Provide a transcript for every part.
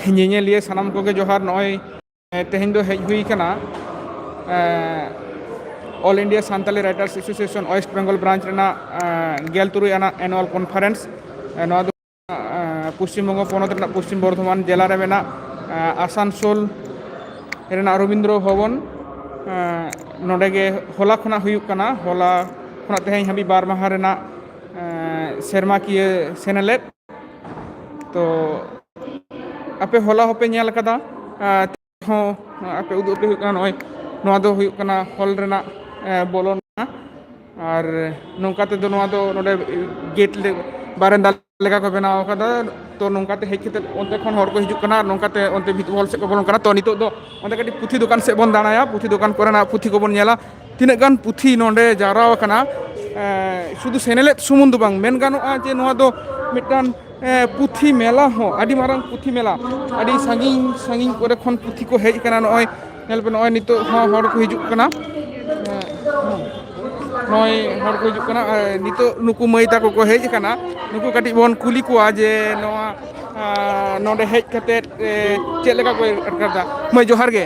ᱧᱮᱧᱮᱞᱤᱭᱟᱹ ᱥᱟᱱᱟᱢ ᱠᱚᱜᱮ ᱡᱚᱦᱟᱨ ᱱᱚᱜᱼᱚᱭ ᱛᱮᱦᱮᱧ ᱫᱚ ᱦᱮᱡ ᱦᱩᱭ ᱠᱟᱱᱟ all India Santali writers association West Bengal branch ᱨᱮᱱᱟᱜ ᱜᱮᱞ ᱛᱩᱨᱩᱭ ᱟᱱᱟᱜ ᱮᱱᱩᱣᱟᱞ ᱠᱚᱱᱯᱷᱟᱨᱮᱱᱥ ᱱᱚᱣᱟ ᱫᱚ ᱯᱚᱥᱪᱤᱢᱵᱚᱝᱜᱚ ᱯᱚᱱᱚᱛ ᱨᱮᱱᱟᱜ ᱯᱚᱥᱪᱤᱢ ᱵᱚᱨᱫᱷᱚᱢᱟᱱ ᱡᱮᱞᱟ ᱨᱮ ᱢᱮᱱᱟᱜ ᱟᱥᱟᱱᱥᱳᱞ ᱨᱮᱱᱟᱜ ᱨᱚᱵᱤᱱᱫᱨᱚ ᱵᱷᱚᱵᱚᱱ ᱱᱚᱰᱮ ᱜᱮ ᱦᱚᱞᱟ ᱠᱷᱚᱱᱟᱜ ᱦᱩᱭᱩᱜ ᱠᱟᱱᱟ ᱦᱚᱞᱟ ᱠᱷᱚᱱᱟᱜ ᱛᱮᱦᱮᱧ ᱦᱟᱹᱵᱤᱡ ᱵᱟᱨ ᱢᱟᱦᱟ ᱨᱮᱱᱟᱜ ᱥᱮᱨᱢᱟᱠᱤᱭᱟᱹ ᱥᱮᱱᱮᱞᱮᱫ ᱛᱚ ᱟᱯᱮ ᱦᱚᱞᱟ ᱦᱚᱸᱯᱮ ᱧᱮᱞ ᱟᱠᱟᱫᱟ ᱦᱚᱸ ᱟᱯᱮ ᱩᱫᱩᱜ ᱟᱯᱮ ᱦᱩᱭᱩᱜ ᱠᱟᱱᱟ ᱱᱚᱜᱼᱚᱭ ᱱᱚᱣᱟ ᱫᱚ ᱦᱩᱭᱩᱜ ᱠᱟᱱᱟ ᱦᱚᱞ ᱨᱮᱱᱟᱜ ᱵᱚᱞᱚᱱ ᱟᱨ ᱱᱚᱝᱠᱟ ᱛᱮᱫᱚ ᱱᱚᱣᱟ ᱫᱚ ᱱᱚᱰᱮ ᱜᱮᱴ ᱞᱮ ᱵᱟᱨᱮᱱᱫᱟ ᱞᱮᱠᱟ ᱠᱚ ᱵᱮᱱᱟᱣ ᱟᱠᱟᱫᱟ ᱛᱚ ᱱᱚᱝᱠᱟᱛᱮ ᱦᱮᱡ ᱠᱟᱛᱮᱫ ᱚᱱᱛᱮ ᱠᱷᱚᱱ ᱦᱚᱲ ᱠᱚ ᱦᱤᱡᱩᱜ ᱠᱟᱱᱟ ᱟᱨ ᱱᱚᱝᱠᱟᱛᱮ ᱚᱱᱛᱮ ᱵᱷᱤᱛᱤᱨ ᱵᱚᱞ ᱥᱮᱫ ᱠᱚ ᱵᱚᱞᱚᱱ ᱠᱟᱱᱟ ᱛᱚ ᱱᱤᱛᱚᱜ ᱫᱚ ᱚᱸᱰᱮ ᱠᱟᱹᱴᱤᱡ ᱯᱩᱛᱷᱤ ᱫᱚᱠᱟᱱ ᱥᱮᱫ ᱵᱚᱱ ᱫᱟᱬᱟᱭᱟ ᱯᱩᱛᱷᱤ ᱫᱚᱠᱟᱱ ᱠᱚᱨᱮᱱᱟᱜ ᱯᱩᱛᱷᱤ ᱠᱚᱵᱚᱱ ᱧᱮᱞᱟ ᱛᱤᱱᱟᱹᱜ ᱜᱟᱱ ᱯᱩᱛᱷᱤ ᱱᱚᱰᱮ ᱡᱟᱣᱨᱟ ᱟᱠᱟᱱᱟ ᱥᱩᱫᱷᱩ ᱥᱮᱱᱮᱞᱮᱫ ᱥᱩᱢᱩᱝ ᱫᱚ ᱵᱟᱝ ᱢᱮᱱ ᱜᱟᱱᱚᱜᱼᱟ ᱡᱮ ᱱᱚᱣᱟ ᱫᱚ ᱢᱤᱫᱴᱟᱝ ᱯᱩᱛᱷᱤ ᱢᱮᱞᱟ ᱦᱚᱸ ᱟᱹᱰᱤ ᱢᱟᱨᱟᱝ ᱯᱩᱛᱷᱤ ᱢᱮᱞᱟ ᱟᱹᱰᱤ ᱥᱟᱺᱜᱤᱧ ᱥᱟᱺᱜᱤᱧ ᱠᱚᱨᱮ ᱠᱷᱚᱱ ᱯᱩᱛᱷᱤ ᱠᱚ ᱦᱮᱡ ᱟᱠᱟᱱᱟ ᱱᱚᱜᱼᱚᱭ ᱧᱮᱞ ᱯᱮ ᱱᱚᱜᱼᱚᱭ ᱱᱤᱛᱚᱜ ᱦᱚᱸ ᱦᱚᱲ ᱠᱚ ᱦᱤᱡᱩᱜ ᱠᱟᱱᱟ ᱱᱚᱜᱼᱚᱭ ᱦᱚᱲ ᱠᱚ ᱦᱤᱡᱩᱜ ᱠᱟᱱᱟ ᱱᱤᱛᱚᱜ ᱱᱩᱠᱩ ᱢᱟᱹᱭ ᱛᱟᱠᱚ ᱠᱚ ᱦᱮᱡ ᱟᱠᱟᱱᱟ ᱱᱩᱠᱩ ᱠᱟᱹᱴᱤᱡ ᱵᱚᱱ ᱠᱩᱞᱤ ᱠᱚᱣᱟ ᱡᱮ ᱱᱚᱣᱟ ᱱᱚᱰᱮ ᱦᱮᱡ ᱠᱟᱛᱮ ᱪᱮᱫ ᱞᱮᱠᱟ ᱠᱚ ᱟᱴᱠᱟᱨᱫᱟ ᱢᱟᱹᱭ ᱡᱚᱦᱟᱨ ᱜᱮ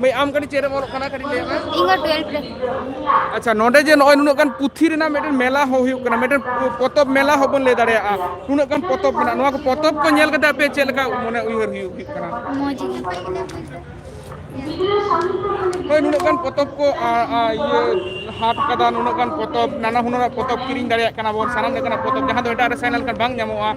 ᱢᱟᱹᱭ ᱟᱢ ᱠᱟᱹᱴᱤᱡ ᱪᱮᱫ ᱮᱢ ᱚᱞᱚᱜ ᱠᱟᱱᱟ ᱠᱟᱹᱴᱤᱡ ᱞᱟᱹᱭ ᱢᱮ ᱤᱧ ᱦᱚᱸ 12 ᱨᱮ ᱟᱪᱪᱷᱟ ᱱᱚᱰᱮ ᱡᱮ ᱱᱚᱜᱼᱚᱭ ᱱᱩᱱᱟᱹᱜ ᱜᱟᱱ ᱯᱩᱛᱷᱤ ᱨᱮᱱᱟᱜ ᱢᱤᱫᱴᱮᱱ ᱢᱮᱞᱟ ᱦᱚᱸ ᱦᱩᱭᱩᱜ ᱠᱟᱱᱟ ᱢᱤᱫᱴᱮᱱ ᱯᱚᱛᱚᱵ ᱢᱮᱞᱟ ᱦᱚᱸ ᱵᱚᱱ ᱞᱟᱹᱭ ᱫᱟᱲᱮᱭᱟᱜᱼᱟ ᱱᱩᱱᱟᱹᱜ ᱜᱟᱱ ᱯᱚᱛᱚᱵ ᱢᱮᱱᱟᱜᱼᱟ ᱱᱚᱣᱟ ᱠᱚ ᱯᱚᱛᱚᱵ ᱠᱚ ᱧᱮᱞ ᱠᱟᱛᱮ ᱟᱯᱮ ᱪᱮᱫ ᱞᱮᱠᱟ ᱢᱚᱱᱮ ᱩᱭᱦᱟᱹᱨ ᱦᱩᱭᱩᱜ ᱦᱩᱭᱩᱜ ᱠᱟᱱᱟ ᱢᱚᱡᱽ ᱜᱮ ᱦᱳᱭ ᱱᱩᱱᱟᱹᱜ ᱜᱟᱱ ᱯᱚᱛᱚᱵ ᱠᱚ ᱤᱭᱟᱹ ᱦᱟᱴ ᱠᱟᱫᱟ ᱱᱩᱱᱟᱹᱜ ᱜᱟᱱ ᱯᱚᱛᱚᱵ ᱱᱟᱱᱟ ᱦᱩᱱᱟᱹᱨᱟᱜ ᱯᱚᱛᱚᱵ ᱠᱤᱨᱤᱧ ᱫᱟᱲᱮᱭᱟᱜ ᱠᱟᱱᱟ ᱵᱚᱱ ᱥᱟᱱᱟᱢ ᱞᱮᱠᱟᱱᱟᱜ ᱯᱚᱛᱚᱵ ᱡᱟᱦᱟᱸ ᱫᱚ ᱮᱴᱟᱜ ᱨᱮ ᱥᱮᱱ ᱞᱮᱱᱠᱷᱟᱱ ᱵᱟᱝ ᱧᱟᱢᱚᱜᱼᱟ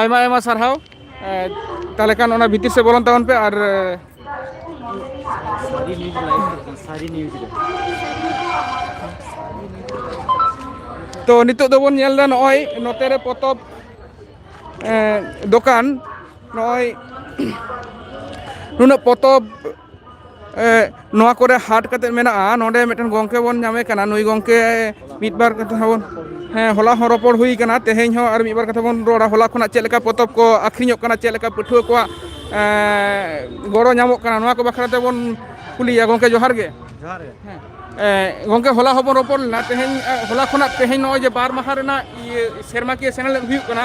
ᱟᱭᱢᱟ ᱟᱭᱢᱟ ᱥᱟᱨᱦᱟᱣ ᱛᱟᱦᱚᱞᱮ ᱠᱷᱟᱱ ᱚᱱᱟ ᱵᱷᱤᱛᱤᱨ ᱥᱮᱫ ᱵᱚᱞᱚᱱ ᱛᱟᱵᱚᱱ ᱯᱮ ᱟᱨ ᱥᱟᱹᱨᱤ ᱱᱤᱭᱩᱡᱽ ᱞᱟᱭᱤᱵᱷ ᱥᱟᱹᱨᱤ ᱱᱤᱭᱩᱡᱽ ᱨᱮ ᱛᱚ ᱱᱤᱛᱚᱜ ᱫᱚᱵᱚᱱ ᱧᱮᱞ ᱮᱫᱟ ᱱᱚᱜᱼᱚᱭ ᱱᱚᱛᱮ ᱨᱮ ᱯᱚᱛᱚᱵ ᱫᱚᱠᱟᱱ ᱱᱚᱜᱼᱚᱭ ᱱᱩᱱᱟᱹᱜ ᱯᱚᱛᱚᱵ ᱮᱸ ᱱᱚᱣᱟ ᱠᱚᱨᱮ ᱦᱟᱴ ᱠᱟᱛᱮᱫ ᱢᱮᱱᱟᱜᱼᱟ ᱱᱚᱰᱮ ᱢᱤᱫᱴᱮᱱ ᱜᱚᱝᱠᱮ ᱵᱚᱱ ᱧᱟᱢᱮ ᱠᱟᱱᱟ ᱱᱩᱭ ᱜᱚᱝᱠᱮ ᱢᱤᱫ ᱵᱟᱨ ᱠᱟᱛᱷᱟ ᱦᱚᱸ ᱦᱮᱸ ᱦᱚᱞᱟ ᱦᱚᱸ ᱨᱚᱯᱚᱲ ᱦᱩᱭ ᱠᱟᱱᱟ ᱛᱮᱦᱮᱧ ᱦᱚᱸ ᱟᱨ ᱢᱤᱫ ᱵᱟᱨ ᱠᱟᱛᱷᱟ ᱵᱚᱱ ᱨᱚᱲᱟ ᱦᱚᱞᱟ ᱠᱷᱚᱱᱟᱜ ᱪᱮᱫ ᱞᱮᱠᱟ ᱯᱚᱛᱚᱵ ᱠᱚ ᱟᱹᱠᱷᱨᱤᱧᱚᱜ ᱠᱟᱱᱟ ᱪᱮᱫ ᱞᱮᱠᱟ ᱯᱟᱹᱴᱷᱩᱣᱟᱹ ᱠᱚᱣᱟᱜ ᱮᱸ ᱜᱚᱲᱚ ᱧᱟᱢᱚᱜ ᱠᱟᱱᱟ ᱱᱚᱣᱟ ᱠᱚ ᱵᱟᱠᱷᱨᱟ ᱛᱮᱵᱚᱱ ᱠᱩᱞᱤᱭᱮᱭᱟ ᱜᱚᱝᱠᱮ ᱡᱚᱦᱟᱨ ᱜᱮ ᱡᱚᱦᱟᱨ ᱜᱮ ᱦᱮᱸ ᱮᱸ ᱜᱚᱝᱠᱮ ᱦᱚᱞᱟ ᱦᱚᱸᱵᱚᱱ ᱨᱚᱯᱚᱲ ᱞᱮᱱᱟ ᱛᱮᱦᱮᱧ ᱦᱚᱞᱟ ᱠᱷᱚᱱᱟᱜ ᱛᱮᱦᱮᱧ ᱱᱚᱜᱼᱚᱭ ᱡᱮ ᱵᱟᱨ ᱢᱟᱦᱟ ᱨᱮᱱᱟᱜ ᱤᱭᱟᱹ ᱥᱮᱨᱢᱟᱠᱤᱭᱟᱹ ᱥᱮᱱᱮᱞᱮᱫ ᱦᱩᱭᱩᱜ ᱠᱟᱱᱟ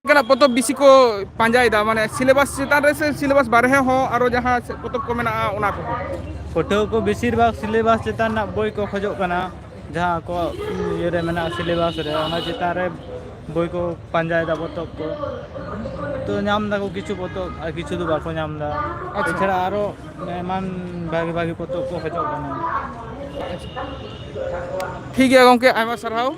ᱚᱱᱠᱟᱱᱟᱜ ᱯᱚᱛᱚᱵ ᱵᱤᱥᱤ ᱠᱚ ᱯᱟᱸᱡᱟᱭᱮᱫᱟ ᱢᱟᱱᱮ ᱥᱤᱞᱮᱵᱟᱥ ᱪᱮᱛᱟᱱ ᱨᱮ ᱥᱮ ᱥᱤᱞᱮᱵᱟᱥ ᱵᱟᱨᱦᱮ ᱦᱚᱸ ᱟᱨᱚ ᱡᱟᱦᱟᱸ ᱪᱮᱫ ᱯᱚᱛᱚᱵ ᱠᱚ ᱢᱮᱱᱟᱜᱼᱟ ᱚᱱᱟ ᱠᱚ ᱯᱟᱹᱴᱷᱩᱣᱟᱹ ᱠᱚ ᱵᱮᱥᱤᱨ ᱵᱷᱟᱜᱽ ᱥᱤᱞᱮᱵᱟᱥ ᱪᱮᱛᱟᱱ ᱨᱮᱱᱟᱜ ᱵᱳᱭ ᱠᱚ ᱠᱷᱚᱡᱚᱜ ᱠᱟᱱᱟ ᱡᱟᱦᱟᱸ ᱟᱠᱚᱣᱟᱜ ᱤᱭᱟᱹ ᱨᱮ ᱢᱮᱱᱟᱜᱼᱟ ᱥᱤᱞᱮᱵᱟᱥ ᱨᱮ ᱚᱱᱟ ᱪᱮᱛᱟᱱ ᱨᱮ ᱵᱳᱭ ᱠᱚ ᱯᱟᱸᱡᱟᱭ ᱫᱟ ᱯᱚᱛᱚᱵ ᱠᱚ ᱛᱚ ᱧᱟᱢ ᱫᱟᱠᱚ ᱠᱤᱪᱷᱩ ᱯᱚᱛᱚᱵ ᱟᱨ ᱠᱤᱪᱷᱩ ᱫᱚ ᱵᱟᱠᱚ ᱧᱟᱢ ᱫᱟ ᱟᱪᱪᱷᱟ ᱮᱪᱷᱟᱲᱟ ᱟᱨᱚ ᱮᱢᱟᱱ ᱵᱷᱟᱜᱤ ᱵᱷᱟᱜᱤ ᱯᱚᱛᱚᱵ ᱠᱚ ᱠᱷᱚᱡᱚᱜ ᱠᱟᱱᱟ ᱴᱷᱤᱠ ᱜᱮᱭᱟ ᱜᱚᱝᱠᱮ ᱟᱭᱢᱟ ᱥᱟᱨᱦᱟᱣ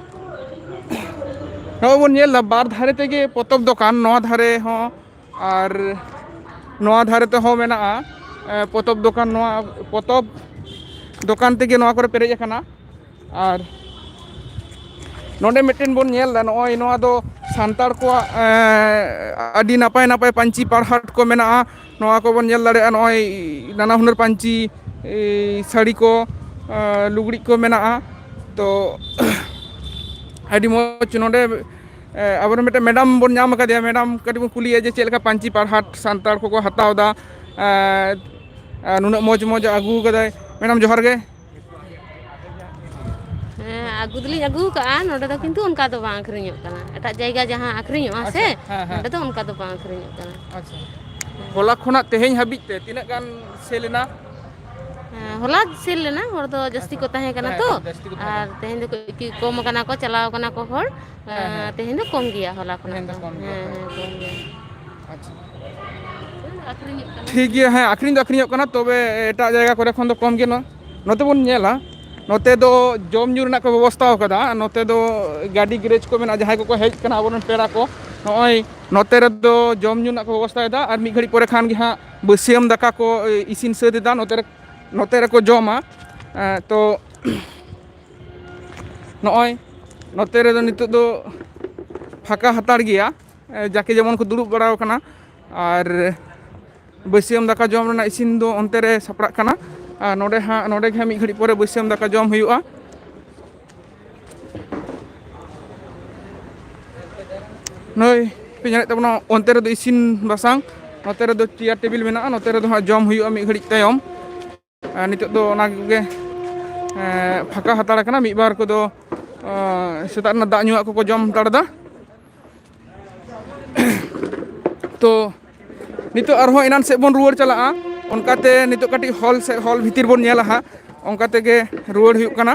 ᱱᱚᱜᱼᱚᱭ ᱵᱚᱱ ᱧᱮᱞ ᱮᱫᱟ ᱵᱟᱨ ᱫᱷᱟᱨᱮ ᱛᱮᱜᱮ ᱯᱚᱛᱚᱵ ᱫᱚᱠᱟᱱ ᱱᱚᱣᱟ ᱫᱷᱟᱨᱮ ᱦᱚᱸ ᱟᱨ ᱱᱚᱣᱟ ᱫᱷᱟᱨᱮ ᱛᱮᱦᱚᱸ ᱢᱮᱱᱟᱜᱼᱟ ᱮᱸ, ᱯᱚᱛᱚᱵ ᱫᱚᱠᱟᱱ ᱱᱚᱣᱟ ᱯᱚᱛᱚᱵ ᱫᱚᱠᱟᱱ ᱛᱮᱜᱮ ᱱᱚᱣᱟ ᱠᱚᱨᱮ ᱯᱮᱨᱮᱡ ᱟᱠᱟᱱᱟ ᱟᱨ ᱱᱚᱰᱮ ᱢᱤᱫᱴᱮᱱ ᱵᱚᱱ ᱧᱮᱞ ᱮᱫᱟ ᱱᱚᱜᱼᱚᱭ ᱱᱚᱣᱟ ᱫᱚ ᱥᱟᱱᱛᱟᱲ ᱠᱚᱣᱟᱜ ᱮᱸ, ᱟᱹᱰᱤ ᱱᱟᱯᱟᱭ ᱱᱟᱯᱟᱭ ᱯᱟᱹᱧᱪᱤ ᱯᱟᱲᱦᱟᱴ ᱠᱚ ᱢᱮᱱᱟᱜᱼᱟ ᱱᱚᱣᱟ ᱠᱚᱵᱚᱱ ᱧᱮᱞ ᱫᱟᱲᱮᱭᱟᱜᱼᱟ ᱱᱚᱜᱼᱚᱭ ᱱᱟᱱᱟ ᱦᱩᱱᱟᱹᱨ ᱯᱟᱹᱧᱪᱤ ᱥᱟᱹᱲᱤ ᱠᱚ ᱞᱩᱜᱽᱲᱤᱡ ᱠᱚ ᱢᱮᱱᱟᱜᱼᱟ ᱛᱚ ᱟᱹᱰᱤ ᱢᱚᱡᱽ ᱱᱚᱰᱮ ᱟᱵᱚᱨᱮᱱ ᱢᱤᱫᱴᱮᱱ ᱢᱮᱰᱟᱢ ᱵᱚᱱ ᱧᱟᱢ ᱟᱠᱟᱫᱮᱭᱟ ᱢᱮᱰᱟᱢ ᱠᱟᱹᱴᱤᱡ ᱵᱚᱱ ᱠᱩᱞᱤᱭᱮᱭᱟ ᱡᱮ ᱪᱮᱫ ᱞᱮᱠᱟ ᱯᱟᱹᱧᱪᱤ ᱯᱟᱨᱦᱟᱴ ᱥᱟᱱᱛᱟᱲ ᱠᱚᱠᱚ ᱦᱟᱛᱟᱣᱫᱟ ᱱᱩᱱᱟᱹᱜ ᱢᱚᱡᱽ ᱢᱚᱡᱽ ᱟᱹᱜᱩ ᱠᱟᱫᱟᱭ ᱢᱮᱰᱟᱢ ᱡᱚᱦᱟᱨ ᱜᱮ ᱦᱮᱸ ᱟᱹᱜᱩ ᱫᱚᱞᱤᱧ ᱟᱹᱜᱩ ᱠᱟᱜᱼᱟ ᱱᱚᱸᱰᱮ ᱫᱚ ᱠᱤᱱᱛᱩ ᱚᱱᱠᱟ ᱫᱚ ᱵᱟᱝ ᱟᱹᱠᱷᱨᱤᱧᱚᱜ ᱠᱟᱱᱟ ᱮᱴᱟᱜ ᱡᱟᱭᱜᱟ ᱡᱟᱦᱟᱸ ᱟᱹᱠᱷᱨᱤᱧᱚᱜᱼᱟ ᱟᱪᱪᱷᱟ ᱥᱮ ᱦᱮᱸ ᱦᱮᱸ ᱱᱚᱸᱰᱮ ᱫᱚ ᱚᱱᱠᱟ ᱫᱚ ᱵᱟᱝ ᱟᱹᱠᱷᱨᱤᱧᱚᱜ ᱠᱟᱱᱟ ᱟᱪᱪᱷᱟ ᱦᱚᱞᱟ ᱠᱷᱚᱱᱟᱜ ᱛᱮᱦᱮᱧ ᱦᱟᱹᱵᱤᱡ ᱛᱮ ᱛᱤᱱᱟᱹᱜ ᱜᱟᱱ ᱥᱮᱞ ᱮᱱᱟ ᱦᱮᱸ ᱦᱚᱞᱟ ᱥᱮᱱ ᱞᱮᱱᱟ ᱦᱚᱲ ᱫᱚ ᱡᱟᱹᱥᱛᱤ ᱟᱪᱪᱷᱟ ᱠᱚ ᱛᱟᱦᱮᱸ ᱠᱟᱱᱟ ᱛᱚ ᱡᱟᱹᱥᱛᱤ ᱠᱚ ᱛᱟᱦᱮᱸ ᱟᱨ ᱠᱟᱱᱟ ᱛᱮᱦᱮᱧ ᱫᱚ ᱠᱟᱹᱡ ᱠᱚᱢ ᱠᱟᱱᱟ ᱠᱚ ᱪᱟᱞᱟᱣ ᱠᱟᱱᱟ ᱠᱚ ᱦᱚᱲ ᱦᱮᱸ ᱦᱮᱸ ᱛᱮᱦᱮᱧ ᱫᱚ ᱠᱚᱢ ᱜᱮᱭᱟ ᱦᱚᱞᱟ ᱠᱷᱚᱱᱟᱜ ᱛᱮᱦᱮᱧ ᱫᱚ ᱠᱚᱢ ᱜᱮᱭᱟ ᱦᱮᱸ ᱦᱳᱭ ᱦᱮᱸ ᱠᱚᱢ ᱜᱮᱭᱟ ᱴᱷᱤᱠ ᱜᱮᱭᱟ ᱦᱮᱸ ᱟᱹᱠᱷᱨᱤᱧ ᱫᱚ ᱟᱹᱠᱷᱨᱤᱧᱚᱜ ᱠᱟᱱᱟ ᱛᱚᱵᱮ ᱮᱴᱟᱜ ᱡᱟᱭᱜᱟ ᱠᱚᱨᱮ ᱠᱷᱚᱱ ᱫᱚ ᱠᱚᱢ ᱜᱮ ᱱᱚᱣᱟ ᱱᱚᱛᱮ ᱵᱚᱱ ᱧᱮᱞᱟ ᱱᱚᱛᱮ ᱫᱚ ᱡᱚᱢ ᱧᱩ ᱨᱮᱱᱟᱜ ᱠᱚ ᱵᱮᱵᱚᱥᱛᱷᱟ ᱟᱠᱟᱫᱟ ᱱᱚᱛᱮ ᱫᱚ ᱜᱟᱹᱰᱤ ᱜᱮᱨᱮᱡᱽ ᱠᱚ ᱢᱮᱱᱟᱜᱼᱟ ᱡᱟᱦᱟᱸᱭ ᱠᱚᱠᱚ ᱦᱮᱡ ᱠᱟᱱᱟ ᱟᱵᱚᱨᱮᱱ ᱯᱮᱲᱟ ᱠᱚ ᱱᱚᱜᱼᱚᱭ ᱱᱚᱛᱮ ᱨᱮᱫᱚ ᱡᱚᱢ ᱧᱩ ᱨᱮᱱᱟᱜ ᱠᱚ ᱵᱮᱵᱚᱥᱛᱷᱟᱭᱮᱫᱟ ᱟᱨ ᱢᱤᱫ ᱜᱷᱟᱹᱲᱤᱡ ᱯᱚᱨᱮ ᱠᱷᱟᱱ ᱜᱮ ᱦᱟᱸᱜ ᱵᱟᱹᱥᱭᱟᱹᱢ ᱫᱟᱠᱟ ᱠᱚ ᱤᱥᱤᱱ ᱥᱟᱹᱛ ᱮᱫᱟ ᱱᱚᱛᱮ ᱨᱮ ᱱᱚᱛᱮ ᱨᱮᱠᱚ ᱡᱚᱢᱟ ᱛᱚ ᱱᱚᱜᱼᱚᱭ ᱱᱚᱛᱮ ᱨᱮᱫᱚ ᱱᱤᱛᱚᱜ ᱫᱚ ᱯᱷᱟᱸᱠᱟ ᱦᱟᱛᱟᱲ ᱜᱮᱭᱟ ᱡᱟᱠᱮ ᱡᱮᱢᱚᱱ ᱠᱚ ᱫᱩᱲᱩᱵ ᱵᱟᱲᱟ ᱟᱠᱟᱱᱟ ᱟᱨ ᱵᱟᱹᱥᱭᱟᱹᱢ ᱫᱟᱠᱟ ᱡᱚᱢ ᱨᱮᱱᱟᱜ ᱤᱥᱤᱱ ᱫᱚ ᱚᱱᱛᱮ ᱨᱮ ᱥᱟᱯᱲᱟᱜ ᱠᱟᱱᱟ ᱟᱨ ᱱᱚᱰᱮ ᱦᱟᱸᱜ ᱱᱚᱰᱮ ᱜᱮ ᱦᱟᱸᱜ ᱢᱤᱫ ᱜᱷᱟᱹᱲᱤᱡ ᱯᱚᱨᱮ ᱵᱟᱹᱥᱭᱟᱹᱢ ᱫᱟᱠᱟ ᱡᱚᱢ ᱦᱩᱭᱩᱜᱼᱟ ᱱᱩᱭ ᱯᱮ ᱧᱮᱞᱮᱫ ᱛᱟᱵᱚᱱᱟ ᱚᱱᱛᱮ ᱨᱮᱫᱚ ᱤᱥᱤᱱ ᱵᱟᱥᱟᱝ ᱱᱚᱛᱮ ᱨᱮᱫᱚ ᱪᱮᱭᱟᱨ ᱴᱮᱵᱤᱞ ᱢᱮᱱᱟᱜᱼᱟ ᱱᱚᱛᱮ ᱨᱮᱫᱚ ᱦᱟᱸᱜ ᱡᱚᱢ ᱦᱩᱭᱩᱜᱼᱟ ᱢᱤᱫ ᱜᱷᱟᱹᱲᱤᱡ ᱛᱟᱭᱚᱢ ᱟᱨ ᱱᱤᱛᱚᱜ ᱫᱚ ᱚᱱᱟ ᱠᱚᱜᱮ ᱯᱷᱟᱸᱠᱟ ᱦᱟᱛᱟᱲ ᱠᱟᱱᱟ ᱢᱤᱫ ᱵᱟᱨ ᱠᱚᱫᱚ ᱥᱮᱛᱟᱜ ᱨᱮᱱᱟᱜ ᱫᱟᱜ ᱧᱩᱣᱟᱜ ᱠᱚᱠᱚ ᱡᱚᱢ ᱦᱟᱛᱟᱲ ᱮᱫᱟ ᱛᱚ ᱱᱤᱛᱚᱜ ᱟᱨᱦᱚᱸ ᱮᱱᱟᱱ ᱥᱮᱫ ᱵᱚᱱ ᱨᱩᱣᱟᱹᱲ ᱪᱟᱞᱟᱜᱼᱟ ᱚᱱᱠᱟᱛᱮ ᱱᱤᱛᱚᱜ ᱠᱟᱹᱴᱤᱡ ᱦᱚᱞ ᱥᱮᱫ ᱦᱚᱞ ᱵᱷᱤᱛᱤᱨ ᱵᱚᱱ ᱧᱮᱞᱟ ᱦᱟᱸᱜ ᱚᱱᱠᱟ ᱛᱮᱜᱮ ᱨᱩᱣᱟᱹᱲ ᱦᱩᱭᱩᱜ ᱠᱟᱱᱟ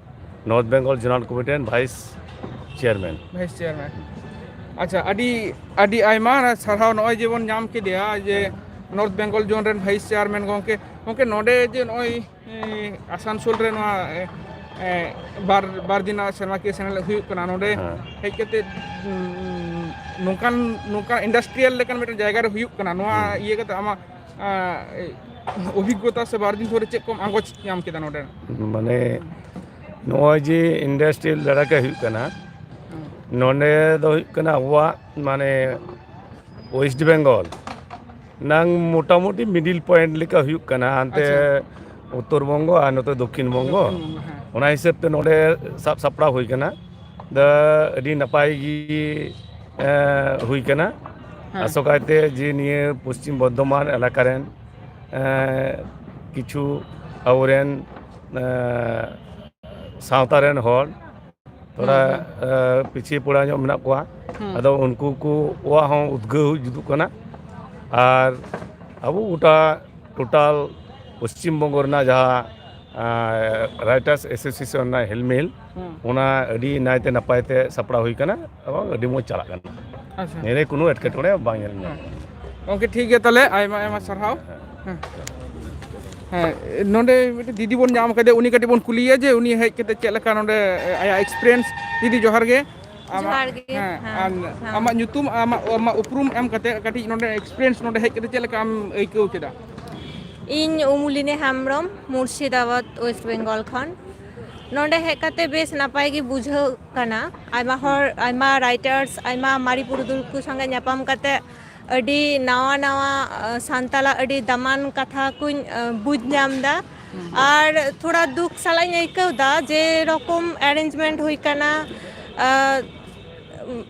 ᱱᱚᱨᱛᱷ ᱵᱮᱝᱜᱚᱞ ᱡᱳᱱᱟᱞ ᱠᱚᱢᱤᱴᱤ ᱨᱮᱱ ᱵᱷᱟᱭᱤᱥ ᱪᱮᱭᱟᱨᱢᱮᱱ ᱵᱷᱟᱭᱤᱥ ᱪᱮᱭᱟᱨᱢᱮᱱ ᱟᱪᱪᱷᱟ ᱟᱹᱰᱤ ᱟᱹᱰᱤ ᱟᱭᱢᱟ ᱥᱟᱨᱦᱟᱣ ᱱᱚᱜᱼᱚᱭ ᱡᱮᱵᱚᱱ ᱧᱟᱢ ᱠᱮᱫᱮᱭᱟ ᱡᱮ ᱱᱚᱨᱛᱷ ᱵᱮᱝᱜᱚᱞ ᱡᱳᱱ ᱨᱮᱱ ᱵᱷᱟᱭᱤᱥ ᱪᱮᱭᱟᱨᱢᱮᱱ ᱜᱚᱢᱠᱮ ᱜᱚᱢᱠᱮ ᱱᱚᱰᱮ ᱡᱮ ᱱᱚᱜᱼᱚᱭ ᱟᱥᱟᱱᱥᱳᱞ ᱨᱮ ᱱᱚᱣᱟ ᱵᱟᱨ ᱵᱟᱨ ᱫᱤᱱ ᱥᱮᱨᱢᱟᱠᱤᱭᱟᱹ ᱥᱮᱱᱮᱞ ᱦᱩᱭᱩᱜ ᱠᱟᱱᱟ ᱱᱚᱰᱮ ᱦᱮᱡ ᱠᱟᱛᱮ ᱱᱚᱝᱠᱟᱱ ᱱᱚᱝᱠᱟᱱ ᱤᱱᱰᱟᱥᱴᱨᱤᱭᱟᱞ ᱞᱮᱠᱟᱱ ᱢᱤᱫᱴᱮᱱ ᱡᱟᱭᱜᱟ ᱨᱮ ᱦᱩᱭᱩᱜ ᱠᱟᱱᱟ ᱱᱚᱣᱟ ᱤᱭᱟᱹ ᱠᱟᱛᱮ ᱟᱢᱟᱜ ᱚᱵᱷᱤᱜᱽᱜᱚᱛᱟ ᱥᱮ ᱵᱟᱨ ᱫᱤᱱ ᱫᱷᱚᱨᱮ ᱪᱮᱫ ᱠᱚᱢ ᱟᱸᱜᱚᱪ ᱧᱟᱢ ᱠᱮᱫᱟ ᱱᱚᱰᱮ ᱢᱟᱱᱮ ᱱᱚᱜᱼᱚᱭ ᱡᱮ ᱤᱱᱰᱟᱥᱴᱨᱤᱭᱟᱞ ᱫᱟᱨᱟᱭᱛᱮ ᱦᱩᱭᱩᱜ ᱠᱟᱱᱟ ᱱᱚᱰᱮ ᱫᱚ ᱦᱩᱭᱩᱜ ᱠᱟᱱᱟ ᱟᱵᱚᱣᱟᱜ ᱢᱟᱱᱮ ᱳᱭᱮᱥᱴ ᱵᱮᱝᱜᱚᱞ ᱱᱟᱝ ᱢᱳᱴᱟᱢᱩᱴᱤ ᱢᱤᱰᱤᱞ ᱯᱚᱭᱮᱱᱴ ᱞᱮᱠᱟ ᱦᱩᱭᱩᱜ ᱠᱟᱱᱟ ᱦᱟᱱᱛᱮ ᱩᱛᱛᱚᱨ ᱵᱚᱝᱜᱚ ᱟᱨ ᱱᱚᱛᱮ ᱫᱚᱠᱠᱷᱤᱱ ᱵᱚᱝᱜᱚ ᱚᱱᱟ ᱦᱤᱥᱟᱹᱵ ᱛᱮ ᱱᱚᱰᱮ ᱥᱟᱵ ᱥᱟᱯᱲᱟᱣ ᱦᱩᱭ ᱠᱟᱱᱟ ᱫᱚ ᱟᱹᱰᱤ ᱱᱟᱯᱟᱭ ᱜᱮ ᱦᱩᱭ ᱠᱟᱱᱟ ᱟᱥᱚᱠᱟᱭᱛᱮ ᱡᱮ ᱱᱤᱭᱟᱹ ᱯᱚᱥᱪᱤᱢ ᱵᱚᱨᱫᱷᱚᱢᱟᱱ ᱮᱞᱟᱠᱟ ᱨᱮᱱ ᱠᱤᱪᱷᱩ ᱟᱵᱚᱨᱮᱱ ᱥᱟᱶᱛᱟ ᱨᱮᱱ ᱦᱚᱲ ᱛᱷᱚᱲᱟ ᱯᱤᱪᱷᱤ ᱯᱚᱲᱟ ᱧᱚᱜ ᱢᱮᱱᱟᱜ ᱠᱚᱣᱟ ᱟᱫᱚ ᱩᱱᱠᱩ ᱠᱚᱣᱟᱜ ᱦᱚᱸ ᱩᱫᱽᱜᱟᱹᱣ ᱡᱩᱫᱩᱜ ᱠᱟᱱᱟ ᱟᱨ ᱟᱵᱚ ᱜᱚᱴᱟ ᱴᱳᱴᱟᱞ ᱯᱚᱥᱪᱤᱢ ᱵᱚᱝᱜᱚ ᱨᱮᱱᱟᱜ ᱡᱟᱦᱟᱸ ᱨᱟᱭᱴᱟᱨᱥ ᱮᱥᱳᱥᱤᱭᱮᱥᱚᱱ ᱨᱮᱱᱟᱜ ᱦᱮᱞᱢᱮᱞ ᱚᱱᱟ ᱟᱹᱰᱤ ᱱᱟᱭᱛᱮ ᱱᱟᱯᱟᱭ ᱛᱮ ᱥᱟᱯᱲᱟᱣ ᱦᱩᱭ ᱠᱟᱱᱟ ᱮᱵᱚᱝ ᱟᱹᱰᱤ ᱢᱚᱡᱽ ᱪᱟᱞᱟᱜ ᱠᱟᱱᱟ ᱟᱪᱪᱷᱟ ᱱᱤᱭᱟᱹ ᱨᱮ ᱠᱳᱱᱳ ᱮᱴᱠᱮᱴᱚᱬᱮ ᱵᱟᱝ ᱧᱮᱞ ᱧᱟᱢᱚᱜ ᱠᱟᱱᱟ ᱜᱚᱝᱠᱮ ᱴᱷᱤᱠ ᱜᱮᱭᱟ ᱛᱟᱦᱚᱞᱮ ᱟᱭᱢᱟ ᱟᱭᱢᱟ ᱥᱟᱨᱦᱟᱣ ᱦᱮᱸ ᱦᱮᱸ ᱱᱚᱰᱮ ᱢᱤᱫᱴᱮᱱ ᱫᱤᱫᱤ ᱵᱚᱱ ᱧᱟᱢ ᱠᱟᱫᱮ ᱩᱱᱤ ᱠᱟᱹᱴᱤᱡ ᱵᱚᱱ ᱠᱩᱞᱤᱭᱮᱭᱟ ᱡᱮ ᱩᱱᱤ ᱦᱮᱡ ᱠᱟᱛᱮ ᱪᱮᱫ ᱞᱮᱠᱟ ᱱᱚᱰᱮ ᱟᱭᱟᱜ ᱮᱠᱥᱯᱤᱨᱤᱭᱮᱱᱥ ᱫᱤᱫᱤ ᱡᱚᱦᱟᱨ ᱜᱮ ᱡᱚᱦᱟᱨ ᱟᱢᱟᱜ ᱜᱮ, ᱦᱮᱸ ᱦᱮᱸ, ᱟᱨ ᱦᱮᱸ᱾ ᱟᱢᱟᱜ ᱧᱩᱛᱩᱢ ᱟᱢᱟᱜ ᱟᱢᱟᱜ ᱩᱯᱨᱩᱢ ᱮᱢ ᱠᱟᱛᱮ ᱠᱟᱹᱴᱤᱡ ᱱᱚᱰᱮ ᱮᱠᱥᱯᱤᱨᱤᱭᱮᱱᱥ ᱱᱚᱰᱮ ᱦᱮᱡ ᱠᱟᱛᱮ ᱪᱮᱫ ᱞᱮᱠᱟ ᱟᱢ ᱟᱹᱭᱠᱟᱹᱣ ᱠᱮᱫᱟ ᱤᱧ ᱩᱢᱩᱞᱤᱱᱤ ᱦᱮᱢᱵᱨᱚᱢ ᱢᱩᱨᱥᱤᱫᱟᱵᱟᱫᱽ ᱳᱭᱮᱥᱴ ᱵᱮᱝᱜᱚᱞ ᱠᱷᱚᱱ ᱱᱚᱰᱮ ᱦᱮᱡ ᱠᱟᱛᱮ ᱵᱮᱥ ᱱᱟᱯᱟᱭ ᱜᱮ ᱵᱩᱡᱷᱟᱹᱜ ᱠᱟᱱᱟ ᱟᱭᱢᱟ ᱦᱚᱲ ᱟᱭᱢᱟ ᱨᱟᱭᱴᱟᱨᱥ ᱟᱭᱢᱟ ᱢᱟᱨᱮ ᱯᱩᱨᱩᱫᱷᱩᱞ ᱠᱚ ᱥᱚᱸᱜᱮ ᱧᱟᱯᱟᱢ ᱠᱟᱛᱮᱫ ᱟᱹᱰᱤ ᱱᱟᱣᱟ ᱱᱟᱣᱟ ᱥᱟᱱᱛᱟᱞᱟᱜ ᱟᱹᱰᱤ ᱫᱟᱢᱟᱱ ᱠᱟᱛᱷᱟ ᱠᱩᱧ ᱵᱩᱡᱽ ᱧᱟᱢ ᱮᱫᱟ ᱟᱨ ᱛᱷᱚᱲᱟ ᱫᱩᱠ ᱥᱟᱞᱟᱜ ᱤᱧ ᱟᱹᱭᱠᱟᱹᱣ ᱮᱫᱟ ᱡᱮᱨᱚᱠᱚᱢ ᱮᱨᱮᱧᱡᱽᱢᱮᱱᱴ ᱦᱩᱭ ᱟᱠᱟᱱᱟ ᱟᱨ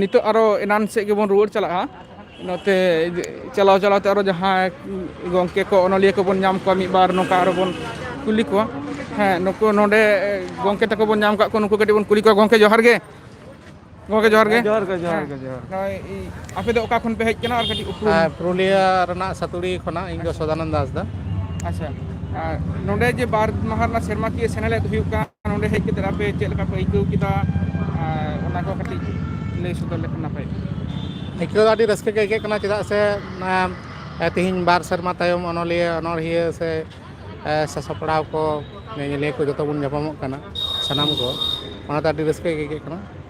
ᱱᱤᱛᱚᱜ ᱟᱨᱚ ᱮᱱᱟᱱ ᱥᱮᱫ ᱜᱮᱵᱚᱱ ᱨᱩᱣᱟᱹᱲ ᱪᱟᱞᱟᱜᱼᱟ ᱱᱚᱛᱮ ᱪᱟᱞᱟᱣ ᱪᱟᱞᱟᱣ ᱛᱮ ᱟᱨᱚ ᱡᱟᱦᱟᱸᱭ ᱜᱚᱝᱠᱮ ᱠᱚ ᱚᱱᱚᱞᱤᱭᱟᱹ ᱠᱚᱵᱚᱱ ᱧᱟᱢ ᱠᱚᱣᱟ ᱢᱤᱫ ᱵᱟᱨ ᱱᱚᱝᱠᱟ ᱟᱨᱚ ᱵᱚᱱ ᱠᱩᱞᱤ ᱠᱚᱣᱟ ᱦᱮᱸ ᱱᱩᱠᱩ ᱱᱚᱰᱮ ᱜᱚᱝᱠᱮ ᱛᱟᱠᱚ ᱵᱚᱱ ᱧᱟᱢ ᱠᱟᱜ ᱠᱚᱣᱟ ᱱᱩᱠᱩ ᱠᱟᱹᱴᱤᱡ ᱵᱚᱱ ᱠᱩᱞᱤ ᱠᱚᱣᱟ ᱜᱚᱝᱠᱮ ᱡᱚᱦᱟᱨ ᱜᱮ ᱜᱚᱢᱠᱮ ᱡᱚᱦᱟᱨ ᱜᱮ ᱦᱮᱸ ᱱᱚᱜᱼᱚᱭ ᱟᱯᱮ ᱫᱚ ᱚᱠᱟ ᱠᱷᱚᱱ ᱯᱮ ᱦᱮᱡ ᱟᱠᱟᱱᱟ ᱟᱨ ᱠᱟᱹᱴᱤᱡ ᱩᱯᱨᱩᱢ ᱦᱮᱸ ᱯᱩᱨᱩᱞᱤᱭᱟᱹ ᱨᱮᱱᱟᱜ ᱥᱟᱹᱛᱩᱲᱤ ᱠᱷᱚᱱᱟᱜ ᱤᱧ ᱫᱚ ᱟᱪᱪᱷᱟ ᱥᱚᱫᱟᱱᱚᱱᱫᱚ ᱦᱟᱸᱥᱫᱟ ᱟᱪᱪᱷᱟ ᱟᱨ ᱱᱚᱰᱮ ᱡᱮ ᱵᱟᱨ ᱢᱟᱦᱟ ᱨᱮᱱᱟᱜ ᱥᱮᱨᱢᱟᱠᱤᱭᱟᱹ ᱥᱮᱱᱮᱞᱮᱫ ᱦᱩᱭᱩᱜ ᱠᱟᱱ ᱱᱚᱸᱰᱮ ᱦᱮᱡ ᱠᱟᱛᱮᱫ ᱟᱯᱮ ᱪᱮᱫ ᱞᱮᱠᱟ ᱯᱮ ᱟᱹᱭᱠᱟᱹᱣ ᱠᱮᱫᱟ ᱟᱨ ᱚᱱᱟ ᱠᱚ ᱠᱟᱹᱴᱤᱡ ᱞᱟᱹᱭ ᱥᱚᱫᱚᱨ ᱞᱮᱠᱷᱟᱱ ᱱᱟᱯᱟᱭ ᱠᱚᱜᱼᱟ ᱟᱹᱭᱠᱟᱹᱣ ᱫᱚ ᱟᱹᱰᱤ ᱨᱟᱹᱥᱠᱟᱹ ᱜᱮ ᱟᱹᱭᱠᱟᱹᱜ ᱠᱟᱱᱟ ᱪᱮᱫᱟᱜ ᱥᱮ ᱛᱮᱦᱤᱧ ᱵᱟᱨ ᱥᱮᱨᱢᱟ ᱛᱟᱭᱚᱢ ᱚᱱᱚᱞᱤᱭᱟᱹ ᱚᱱᱚᱲᱦᱤᱭᱟᱹ ᱥᱮ ᱥᱟᱥᱟᱯᱲᱟᱣ ᱠᱚ ᱧᱮᱧᱮᱞᱤᱭᱟᱹ ᱠᱚ ᱡᱚᱛᱚ ᱵᱚᱱ ᱧᱟᱯᱟᱢᱚᱜ ᱠᱟᱱᱟ ᱥᱟᱱᱟᱢ ᱠᱚ ᱚᱱᱟᱛᱮ ᱟᱹᱰᱤ ᱨᱟᱹᱥᱠᱟᱹ ᱜᱮ ᱟᱹᱭᱠᱟᱹᱜ ᱠᱟᱱᱟ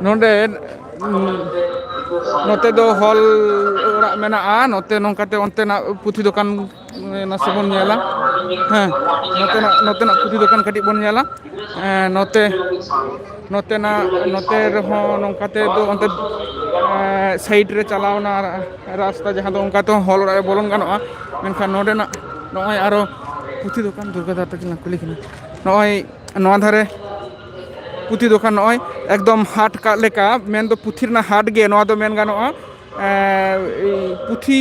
ᱱᱚᱸᱰᱮ ᱱᱚᱛᱮ ᱫᱚ ᱦᱚᱞ ᱚᱲᱟᱜ ᱢᱮᱱᱟᱜᱼᱟ ᱱᱚᱛᱮ ᱱᱚᱝᱠᱟᱛᱮ ᱚᱱᱛᱮᱱᱟᱜ ᱯᱩᱛᱷᱤ ᱫᱚᱠᱟᱱ ᱱᱟᱥᱮ ᱵᱚᱱ ᱧᱮᱞᱟ ᱦᱮᱸ ᱱᱚᱛᱮᱱᱟᱜ ᱱᱚᱛᱮᱱᱟᱜ ᱯᱩᱛᱷᱤ ᱫᱚᱠᱟᱱ ᱠᱟᱹᱴᱤᱡ ᱵᱚᱱ ᱧᱮᱞᱟ ᱮᱸ ᱱᱚᱛᱮ ᱱᱚᱛᱮᱱᱟᱜ ᱱᱚᱛᱮ ᱨᱮᱦᱚᱸ ᱱᱚᱝᱠᱟ ᱛᱮ ᱫᱚ ᱚᱱᱛᱮ ᱮᱸ ᱥᱟᱭᱤᱰ ᱨᱮ ᱪᱟᱞᱟᱣᱱᱟ ᱨᱟᱥᱛᱟ ᱡᱟᱦᱟᱸ ᱫᱚ ᱚᱱᱠᱟ ᱛᱮᱦᱚᱸ ᱦᱚᱞ ᱚᱲᱟᱜ ᱨᱮ ᱵᱚᱞᱚᱱ ᱜᱟᱱᱚᱜᱼᱟ ᱢᱮᱱᱠᱷᱟᱱ ᱱᱚᱸᱰᱮᱱᱟᱜ ᱱᱚᱜᱼᱚᱭ ᱟᱨᱚ ᱯᱩᱛᱷᱤ ᱫᱚᱠᱟᱱ ᱫᱩᱨᱜᱟ ᱫᱟ ᱛᱟᱹᱠᱤᱱ ᱞᱟᱝ ᱠᱩᱞᱤ ᱠᱤᱱᱟ ᱱᱚᱜᱼᱚᱭ ᱱᱚᱣᱟ ᱫᱷᱟᱨᱮ ᱯᱩᱛᱷᱤ ᱫᱚᱠᱟᱱ ᱱᱚᱜᱼᱚᱭ ᱮᱠᱫᱚᱢ ᱦᱟᱴ ᱠᱟᱜ ᱞᱮᱠᱟ ᱢᱮᱱᱫᱚ ᱯᱩᱛᱷᱤ ᱨᱮᱱᱟᱜ ᱦᱟᱴ ᱜᱮ ᱱᱚᱣᱟ ᱫᱚ ᱢᱮᱱ ᱜᱟᱱᱚᱜᱼᱟ ᱯᱩᱛᱷᱤ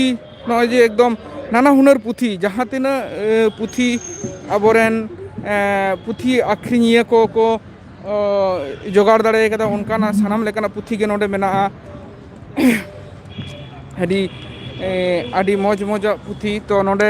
ᱱᱚᱜᱼᱚᱭ ᱡᱮ ᱮᱠᱫᱚᱢ ᱱᱟᱱᱟ ᱦᱩᱱᱟᱹᱨ ᱯᱩᱛᱷᱤ ᱡᱟᱦᱟᱸ ᱛᱤᱱᱟᱹᱜ ᱯᱩᱛᱷᱤ ᱟᱵᱚᱨᱮᱱ ᱯᱩᱛᱷᱤ ᱟᱠᱷᱨᱤᱧᱤᱭᱟᱹ ᱠᱚ ᱠᱚ ᱡᱚᱜᱟᱲ ᱫᱟᱲᱮ ᱠᱟᱫᱟ ᱚᱱᱠᱟᱱᱟᱜ ᱥᱟᱱᱟᱢ ᱞᱮᱠᱟᱱᱟᱜ ᱯᱩᱛᱷᱤ ᱜᱮ ᱱᱚᱰᱮ ᱢᱮᱱᱟᱜᱼᱟ ᱟᱹᱰᱤ ᱟᱹᱰᱤ ᱢᱚᱡᱽ ᱢᱚᱡᱟᱜ ᱯᱩᱛᱷᱤ ᱛᱚ ᱱᱚᱰᱮ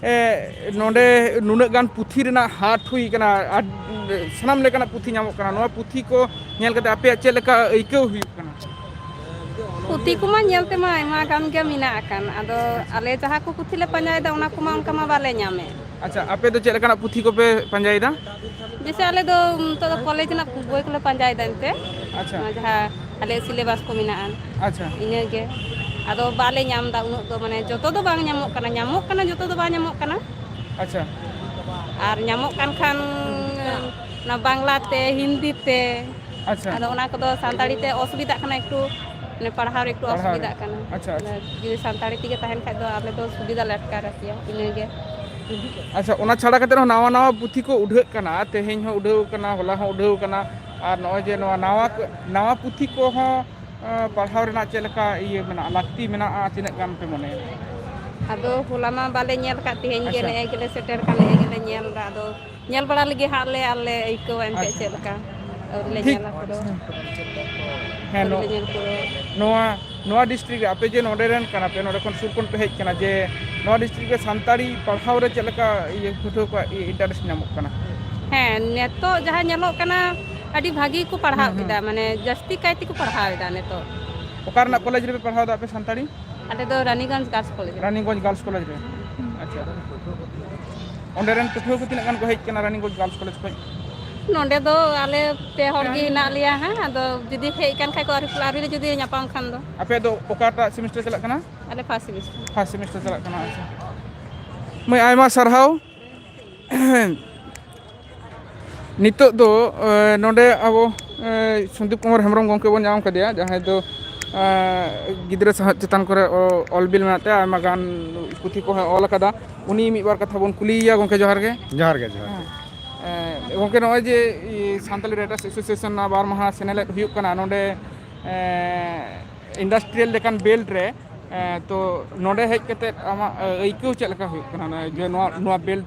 ᱱᱚᱰᱮ ᱱᱩᱱᱟᱹᱜ ᱜᱟᱱ ᱯᱩᱛᱷᱤ ᱨᱮᱱᱟᱜ ᱦᱟᱴ ᱦᱩᱭ ᱠᱟᱱᱟ ᱟᱨ ᱥᱟᱱᱟᱢ ᱞᱮᱠᱟᱱᱟᱜ ᱯᱩᱛᱷᱤ ᱧᱟᱢᱚᱜ ᱠᱟᱱᱟ ᱱᱚᱣᱟ ᱯᱩᱛᱷᱤ ᱠᱚ ᱧᱮᱞ ᱠᱟᱛᱮ ᱟᱯᱮᱭᱟᱜ ᱪᱮᱫ ᱞᱮᱠᱟ ᱟᱹᱭᱠᱟᱹᱣ ᱦᱩᱭᱩᱜ ᱠᱟᱱᱟ ᱯᱩᱛᱷᱤ ᱠᱚᱢᱟ ᱧᱮᱞ ᱛᱮᱢᱟ ᱟᱭᱢᱟ ᱜᱟᱱ ᱜᱮ ᱢᱮᱱᱟᱜ ᱟᱠᱟᱱ ᱟᱫᱚ ᱟᱞᱮ ᱡᱟᱦᱟᱸ ᱠᱚ ᱯᱩᱛᱷᱤ ᱞᱮ ᱯᱟᱸᱡᱟᱭᱮᱫᱟ ᱚᱱᱟ ᱠᱚᱢᱟ ᱚᱱᱠᱟ ᱢᱟ ᱵᱟᱞᱮ ᱧᱟᱢᱮᱫ ᱟᱪᱪᱷᱟ ᱟᱯᱮ ᱫᱚ ᱪᱮᱫ ᱞᱮᱠᱟᱱᱟᱜ ᱯᱩᱛᱷᱤ ᱠᱚᱯᱮ ᱯᱟᱸᱡᱟᱭᱮᱫᱟ ᱡᱮᱭᱥᱮ ᱟᱞᱮ ᱫᱚ ᱱᱤᱛᱚᱜ ᱫᱚ ᱠᱚᱞᱮᱡᱽ ᱨᱮᱱᱟᱜ ᱵᱳᱭ ᱠᱚᱞᱮ ᱯᱟᱸᱡᱟᱭᱮᱫᱟ ᱮᱱᱛᱮ ᱟᱪᱪᱷᱟ ᱱᱚᱣᱟ ᱡᱟᱦᱟᱸ ᱟᱞᱮᱭᱟᱜ ᱥᱤᱞᱮᱵᱟᱥ ᱠᱚ ᱢᱮᱱᱟᱜᱼᱟ ᱟᱪᱪᱷᱟ ᱤᱱᱟᱹᱜᱮ ᱟᱫᱚ ᱵᱟᱞᱮ ᱧᱟᱢ ᱮᱫᱟ ᱩᱱᱟᱹᱜ ᱫᱚ ᱢᱟᱱᱮ ᱡᱚᱛᱚ ᱫᱚ ᱵᱟᱝ ᱧᱟᱢᱚᱜ ᱠᱟᱱᱟ ᱧᱟᱢᱚᱜ ᱠᱟᱱᱟ ᱡᱚᱛᱚ ᱫᱚ ᱵᱟᱝ ᱧᱟᱢᱚᱜ ᱠᱟᱱᱟ ᱟᱪᱪᱷᱟ ᱟᱨ ᱧᱟᱢᱚᱜ ᱠᱟᱱ ᱠᱷᱟᱱ ᱚᱱᱟ ᱵᱟᱝᱞᱟᱛᱮ ᱦᱤᱱᱫᱤ ᱛᱮ ᱟᱪᱪᱷᱟ ᱟᱫᱚ ᱚᱱᱟ ᱠᱚᱫᱚ ᱥᱟᱱᱛᱟᱲᱤ ᱛᱮ ᱚᱥᱩᱵᱤᱫᱷᱟᱜ ᱠᱟᱱᱟ ᱮᱠᱴᱩ ᱢᱟᱱᱮ ᱯᱟᱲᱦᱟᱣ ᱨᱮ ᱮᱠᱴᱩ ᱚᱥᱩᱵᱤᱫᱷᱟᱜ ᱠᱟᱱᱟ ᱟᱪᱪᱷᱟ ᱟᱪᱪᱷᱟ ᱡᱩᱫᱤ ᱥᱟᱱᱛᱟᱲᱤ ᱛᱮᱜᱮ ᱛᱟᱦᱮᱱ ᱠᱷᱟᱡ ᱫᱚ ᱟᱞᱮ ᱫᱚ ᱥᱩᱵᱤᱫᱷᱟ ᱞᱮ ᱟᱴᱠᱟᱨ ᱠᱮᱭᱟ ᱤᱱᱟᱹᱜᱮ ᱟᱪᱪᱷᱟ ᱚᱱᱟ ᱪᱷᱟᱲᱟ ᱠᱟᱛᱮ ᱦᱚᱸ ᱱᱟᱣᱟ ᱱᱟᱣᱟ ᱯᱩᱛᱷᱤ ᱠᱚ ᱩᱰᱷᱟᱹᱜ ᱠᱟᱱᱟ ᱛᱮᱦᱮᱧ ᱦᱚᱸ ᱩᱰᱷᱟᱹᱣ ᱠᱟᱱᱟ ᱦᱚᱞᱟ ᱦᱚᱸ ᱩᱰᱷᱟᱹᱣ ᱠᱟᱱᱟ ᱟᱨ ᱱᱚᱜᱼᱚᱭ ᱡᱮ ᱱᱚᱣᱟ ᱱᱟᱣᱟ ᱱᱟᱣᱟ ᱯᱩᱛᱷᱤ ᱠᱚᱦᱚᱸ ᱯᱟᱲᱦᱟᱣ ᱨᱮᱱᱟᱜ ᱪᱮᱫ ᱞᱮᱠᱟ ᱤᱭᱟᱹ ᱢᱮᱱᱟᱜᱼᱟ ᱞᱟᱹᱠᱛᱤ ᱢᱮᱱᱟᱜᱼᱟ ᱛᱤᱱᱟᱹᱜ ᱜᱟᱱ ᱯᱮ ᱢᱚᱱᱮᱭᱟ ᱟᱫᱚ ᱦᱚᱞᱟ ᱢᱟ ᱵᱟᱞᱮ ᱧᱮᱞ ᱠᱟᱫ ᱛᱮᱦᱮᱧ ᱜᱮ ᱱᱮᱜᱼᱮ ᱜᱮᱞᱮ ᱥᱮᱴᱮᱨ ᱠᱟᱱ ᱱᱮᱜᱼᱮ ᱜᱮᱞᱮ ᱧᱮᱞ ᱮᱫᱟ ᱟᱫᱚ ᱧᱮᱞ ᱵᱟᱲᱟ ᱞᱮᱜᱮ ᱦᱟᱸᱜ ᱞᱮ ᱟᱨᱞᱮ ᱟᱹᱭᱠᱟᱹᱣᱟ ᱮᱱᱛᱮᱫ ᱟᱪᱪᱷᱟ ᱪᱮᱫ ᱞᱮᱠᱟ ᱟᱹᱣᱨᱤ ᱞᱮ ᱴᱷᱤᱠ ᱧᱮᱞᱟ ᱯᱩᱨᱟᱹ ᱦᱮᱸ ᱟᱹᱣᱨᱤ ᱞᱮ ᱱᱚᱜ ᱧᱮᱞ ᱯᱩᱨᱟᱹᱣᱟ ᱱᱚᱣᱟ ᱱᱚᱣᱟ ᱰᱤᱥᱴᱤᱠ ᱨᱮ ᱟᱯᱮ ᱡᱮ ᱱᱚᱰᱮ ᱨᱮᱱ ᱠᱟᱱᱟ ᱯᱮ ᱱᱚᱰᱮ ᱠᱷᱚᱱ ᱥᱩᱨ ᱠᱷᱚᱱ ᱯᱮ ᱦᱮᱡ ᱟᱠᱟᱱᱟ ᱡᱮ ᱱᱚᱣᱟ ᱰᱤᱥᱴᱤᱠ ᱨᱮ ᱥᱟᱱᱛᱟᱲᱤ ᱯᱟᱲᱦᱟᱣ ᱨᱮ ᱪᱮᱫ ᱞᱮᱠᱟ ᱤᱭᱟᱹ ᱯᱟᱹᱴᱷᱩᱣᱟᱹ ᱠᱚᱣᱟᱜ ᱤᱱᱴᱟᱨᱮᱥᱴ ᱧᱟᱢᱚᱜ ᱠᱟᱱᱟ ᱦᱮᱸ ᱱᱤᱛᱚᱜ ᱡᱟᱦᱟᱸ ᱧᱮᱞᱚᱜ ᱠᱟᱱᱟ ᱟᱹᱰᱤ ᱵᱷᱟᱹᱜᱤ ᱜᱮᱠᱚ ᱦᱩᱸ ᱯᱟᱲᱦᱟᱣ ᱦᱩᱸ ᱮᱫᱟ ᱢᱟᱱᱮ ᱡᱟᱹᱥᱛᱤ ᱠᱟᱭ ᱛᱮᱠᱚ ᱯᱟᱲᱦᱟᱣ ᱮᱫᱟ ᱱᱤᱛᱚᱜ ᱚᱠᱟ ᱨᱮᱱᱟᱜ ᱠᱚᱞᱮᱡᱽ ᱨᱮᱯᱮ ᱯᱟᱲᱦᱟᱣ ᱮᱫᱟ ᱟᱯᱮ ᱥᱟᱱᱛᱟᱲᱤ ᱟᱞᱮ ᱫᱚ ᱨᱟᱱᱤᱜᱚᱸᱡᱽ ᱜᱟᱨᱞᱥ ᱠᱚᱞᱮᱡᱽ ᱨᱮ ᱨᱟᱱᱤᱜᱚᱸᱡᱽ ᱜᱟᱨᱞᱥ ᱠᱚᱞᱮᱡᱽ ᱨᱮ ᱟᱪᱪᱷᱟ ᱚᱸᱰᱮ ᱨᱮᱱ ᱯᱟᱹᱴᱷᱩᱣᱟᱹ ᱠᱚ ᱛᱤᱱᱟᱹᱜ ᱜᱟᱱ ᱠᱚ ᱦᱮᱡ ᱟᱠᱟᱱᱟ ᱨᱟᱱᱤᱜᱚᱸᱡᱽ ᱜᱟᱨᱞᱥ ᱠᱚᱞᱮᱡᱽ ᱠᱷᱚᱱ? ᱱᱚᱸᱰᱮ ᱫᱚ ᱟᱞᱮ ᱯᱮ ᱦᱚᱲ ᱜᱮ ᱦᱮᱱᱟᱜ ᱞᱮᱭᱟ ᱦᱟᱸᱜ ᱟᱫᱚ ᱡᱩᱫᱤ ᱦᱮᱡ ᱟᱠᱟᱱ ᱠᱷᱟᱡ ᱠᱚ ᱟᱹᱣᱨᱤ ᱞᱮ ᱡᱩᱫᱤ ᱧᱟᱯᱟᱢ ᱠᱷᱟᱱ ᱫᱚ ᱟᱯᱮ ᱫᱚ ᱚᱠᱟᱴᱟᱜ ᱥᱮᱢᱤᱥᱴᱟᱨ ᱪᱟᱞᱟᱜ ᱠᱟᱱᱟ? ᱟᱞᱮ ᱯᱷᱟᱥᱴ ᱥᱮᱢᱤᱥᱴᱟᱨ ᱯᱷᱟᱥᱴ ᱥᱮᱢᱤᱥᱴᱟᱨ ᱪᱟᱞᱟᱜ ᱠᱟᱱᱟ ᱟᱪᱪᱷᱟ ᱢᱟᱹᱭ ᱟᱭᱢᱟ ᱥᱟᱨᱦᱟᱣ ᱾ ᱱᱤᱛᱚᱜ ᱫᱚ ᱱᱚᱰᱮ ᱟᱵᱚ ᱥᱩᱫᱤᱯ ᱠᱩᱢᱟᱨ ᱦᱮᱢᱵᱨᱚᱢ ᱜᱚᱢᱠᱮ ᱵᱚᱱ ᱧᱟᱢ ᱠᱟᱫᱮᱭᱟ ᱡᱟᱦᱟᱸᱭ ᱫᱚ ᱜᱤᱫᱽᱨᱟᱹ ᱥᱟᱶᱦᱮᱫ ᱪᱮᱛᱟᱱ ᱠᱚᱨᱮ ᱚᱞ ᱵᱤᱞ ᱢᱮᱱᱟᱜ ᱛᱟᱭᱟ ᱟᱭᱢᱟ ᱜᱟᱱ ᱯᱩᱛᱷᱤ ᱠᱚᱦᱚᱸᱭ ᱚᱞ ᱟᱠᱟᱫᱟ ᱩᱱᱤ ᱢᱤᱫ ᱵᱟᱨ ᱠᱟᱛᱷᱟ ᱵᱚᱱ ᱠᱩᱞᱤᱭᱮᱭᱟ ᱜᱚᱢᱠᱮ ᱡᱚᱦᱟᱨ ᱜᱮ ᱡᱚᱦᱟᱨ ᱜᱮ ᱡᱚᱦᱟᱨ ᱜᱮ ᱜᱚᱢᱠᱮ ᱱᱚᱜᱼᱚᱭ ᱡᱮ ᱥᱟᱱᱛᱟᱞᱤ ᱨᱟᱭᱴᱟᱨᱥ ᱮᱥᱳᱥᱤᱭᱮᱥᱚᱱ ᱨᱮᱱᱟᱜ ᱵᱟᱨ ᱢᱟᱦᱟ ᱥᱮᱱᱮᱞᱮᱫ ᱦᱩᱭᱩᱜ ᱠᱟᱱᱟ ᱱᱚᱰᱮ ᱤᱱᱰᱟᱥᱴᱨᱤᱭᱟᱞ ᱞᱮᱠᱟᱱ ᱵᱮᱞᱴ ᱨᱮ ᱛᱚ ᱱᱚᱰᱮ ᱦᱮᱡ ᱠᱟᱛᱮᱫ ᱟᱢᱟᱜ ᱟᱹᱭᱠᱟᱹᱣ ᱪᱮᱫ ᱞᱮᱠᱟ ᱦᱩᱭᱩᱜ ᱠᱟᱱᱟ ᱡᱮ ᱱᱚᱣᱟ ᱵᱮᱞᱴ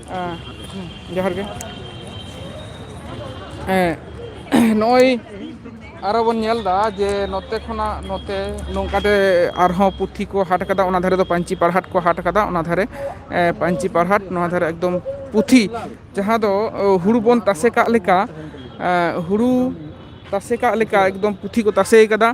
ᱟᱸ ᱡᱚᱦᱟᱨ ᱜᱮ ᱦᱮᱸ ᱱᱚᱜᱼᱚᱭ ᱟᱨᱚ ᱵᱚᱱ ᱧᱮᱞ ᱮᱫᱟ ᱡᱮ ᱱᱚᱛᱮ ᱠᱷᱚᱱᱟᱜ ᱱᱚᱛᱮ ᱱᱚᱝᱠᱟᱛᱮ ᱟᱨᱦᱚᱸ ᱯᱩᱛᱷᱤ ᱠᱚ ᱦᱟᱴ ᱠᱟᱫᱟ ᱚᱱᱟ ᱫᱷᱟᱨᱮ ᱫᱚ ᱯᱟᱹᱧᱪᱤ ᱯᱟᱨᱦᱟᱴ ᱠᱚ ᱦᱟᱴ ᱠᱟᱫᱟ ᱚᱱᱟ ᱫᱷᱟᱨᱮ ᱯᱟᱹᱧᱪᱤ ᱯᱟᱨᱦᱟᱴ ᱱᱚᱣᱟ ᱫᱷᱟᱨᱮ ᱮᱠᱫᱚᱢ ᱯᱩᱛᱷᱤ ᱡᱟᱦᱟᱸ ᱫᱚ ᱦᱩᱲᱩ ᱵᱚᱱ ᱛᱟᱥᱮ ᱠᱟᱜ ᱞᱮᱠᱟ ᱦᱩᱲᱩ ᱛᱟᱥᱮ ᱠᱟᱜ ᱞᱮᱠᱟ ᱮᱠᱫᱚᱢ ᱯᱩᱛᱷᱤ ᱠᱚ ᱛᱟᱥᱮ ᱠᱟᱫᱟ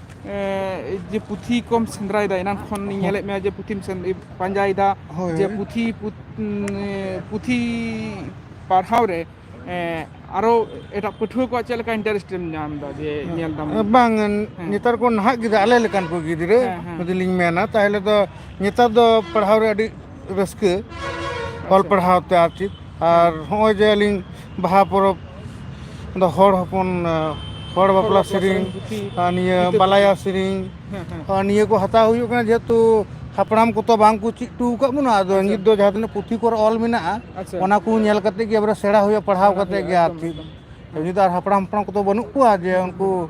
ᱡᱮ ᱯᱩᱛᱷᱤ ᱠᱚᱢ ᱥᱮᱸᱫᱽᱨᱟᱭᱮᱫᱟ ᱮᱱᱟᱱ ᱠᱷᱚᱱᱤᱧ ᱦᱳᱭ ᱧᱮᱞᱮᱫ ᱢᱮᱭᱟ ᱡᱮ ᱯᱩᱛᱷᱤᱢ ᱯᱟᱸᱡᱟᱭᱮᱫᱟ ᱦᱳᱭ ᱡᱮ ᱯᱩᱛᱷᱤ ᱯᱩᱛᱷᱤ ᱯᱟᱲᱦᱟᱣ ᱨᱮ ᱟᱨᱚ ᱮᱴᱟᱜ ᱯᱟᱹᱴᱷᱩᱣᱟᱹ ᱠᱚᱣᱟᱜ ᱪᱮᱫ ᱞᱮᱠᱟ ᱤᱱᱴᱟᱨᱮᱥᱴ ᱮᱢ ᱧᱟᱢ ᱮᱫᱟ ᱡᱮ ᱧᱮᱞ ᱫᱟᱢ ᱵᱟᱝ ᱦᱮᱸ ᱱᱮᱛᱟᱨ ᱠᱚ ᱱᱟᱦᱟᱜ ᱜᱤᱫᱽᱨᱟᱹ ᱟᱞᱮ ᱞᱮᱠᱟᱱ ᱠᱚ ᱜᱤᱫᱽᱨᱟᱹ ᱦᱮᱸ ᱦᱮᱸ ᱡᱩᱫᱤ ᱞᱤᱧ ᱢᱮᱱᱟ ᱛᱟᱦᱚᱞᱮ ᱫᱚ ᱱᱮᱛᱟᱨ ᱫᱚ ᱯᱟᱲᱦᱟᱣ ᱨᱮ ᱟᱹᱰᱤ ᱨᱟᱹᱥᱠᱟᱹ ᱚᱞ ᱯᱟᱲᱦᱟᱣ ᱛᱮ ᱟᱨ ᱪᱮᱫ ᱟᱨ ᱦᱚᱸᱜᱼᱚᱭ ᱡᱮ ᱟᱹᱞᱤᱧ ᱵᱟᱦᱟ ᱯᱚᱨᱚᱵᱽ ᱫᱚ ᱦᱚᱲ ᱦᱚᱯᱚᱱ ᱦᱚᱲ ᱵᱟᱯᱞᱟ ᱥᱮᱨᱮᱧ ᱟᱨ ᱱᱤᱭᱟᱹ ᱵᱟᱞᱟᱭᱟ ᱥᱮᱨᱮᱧ ᱟᱨ ᱱᱤᱭᱟᱹ ᱠᱚ ᱦᱟᱛᱟᱣ ᱦᱩᱭᱩᱜ ᱠᱟᱱᱟ ᱡᱮᱦᱮᱛᱩ ᱦᱟᱯᱲᱟᱢ ᱠᱚᱛᱚ ᱵᱟᱝ ᱠᱚ ᱪᱮᱫ ᱦᱚᱴᱚ ᱟᱠᱟᱫ ᱵᱚᱱᱟ ᱟᱫᱚ ᱱᱤᱛ ᱫᱚ ᱡᱟᱦᱟᱸ ᱛᱤᱱᱟᱹᱜ ᱯᱩᱛᱷᱤ ᱠᱚᱨᱮ ᱚᱞ ᱢᱮᱱᱟᱜᱼᱟ ᱟᱪᱪᱷᱟ᱾ ᱚᱱᱟ ᱠᱚ ᱧᱮᱞ ᱠᱟᱛᱮ ᱜᱮ ᱮᱵᱟᱨᱮ ᱥᱮᱬᱟ ᱦᱩᱭᱩᱜᱼᱟ ᱯᱟᱲᱦᱟᱣ ᱠᱟᱛᱮ ᱜᱮ ᱟᱨ ᱪᱮᱫ ᱱᱤᱛ ᱫᱚ ᱟᱨ ᱦᱟᱯᱲᱟᱢ ᱦᱟᱯᱲᱟᱢ ᱠᱚᱫᱚ ᱵᱟᱹᱱᱩᱜ ᱠᱚᱣᱟ ᱡᱮ ᱩᱱᱠᱩ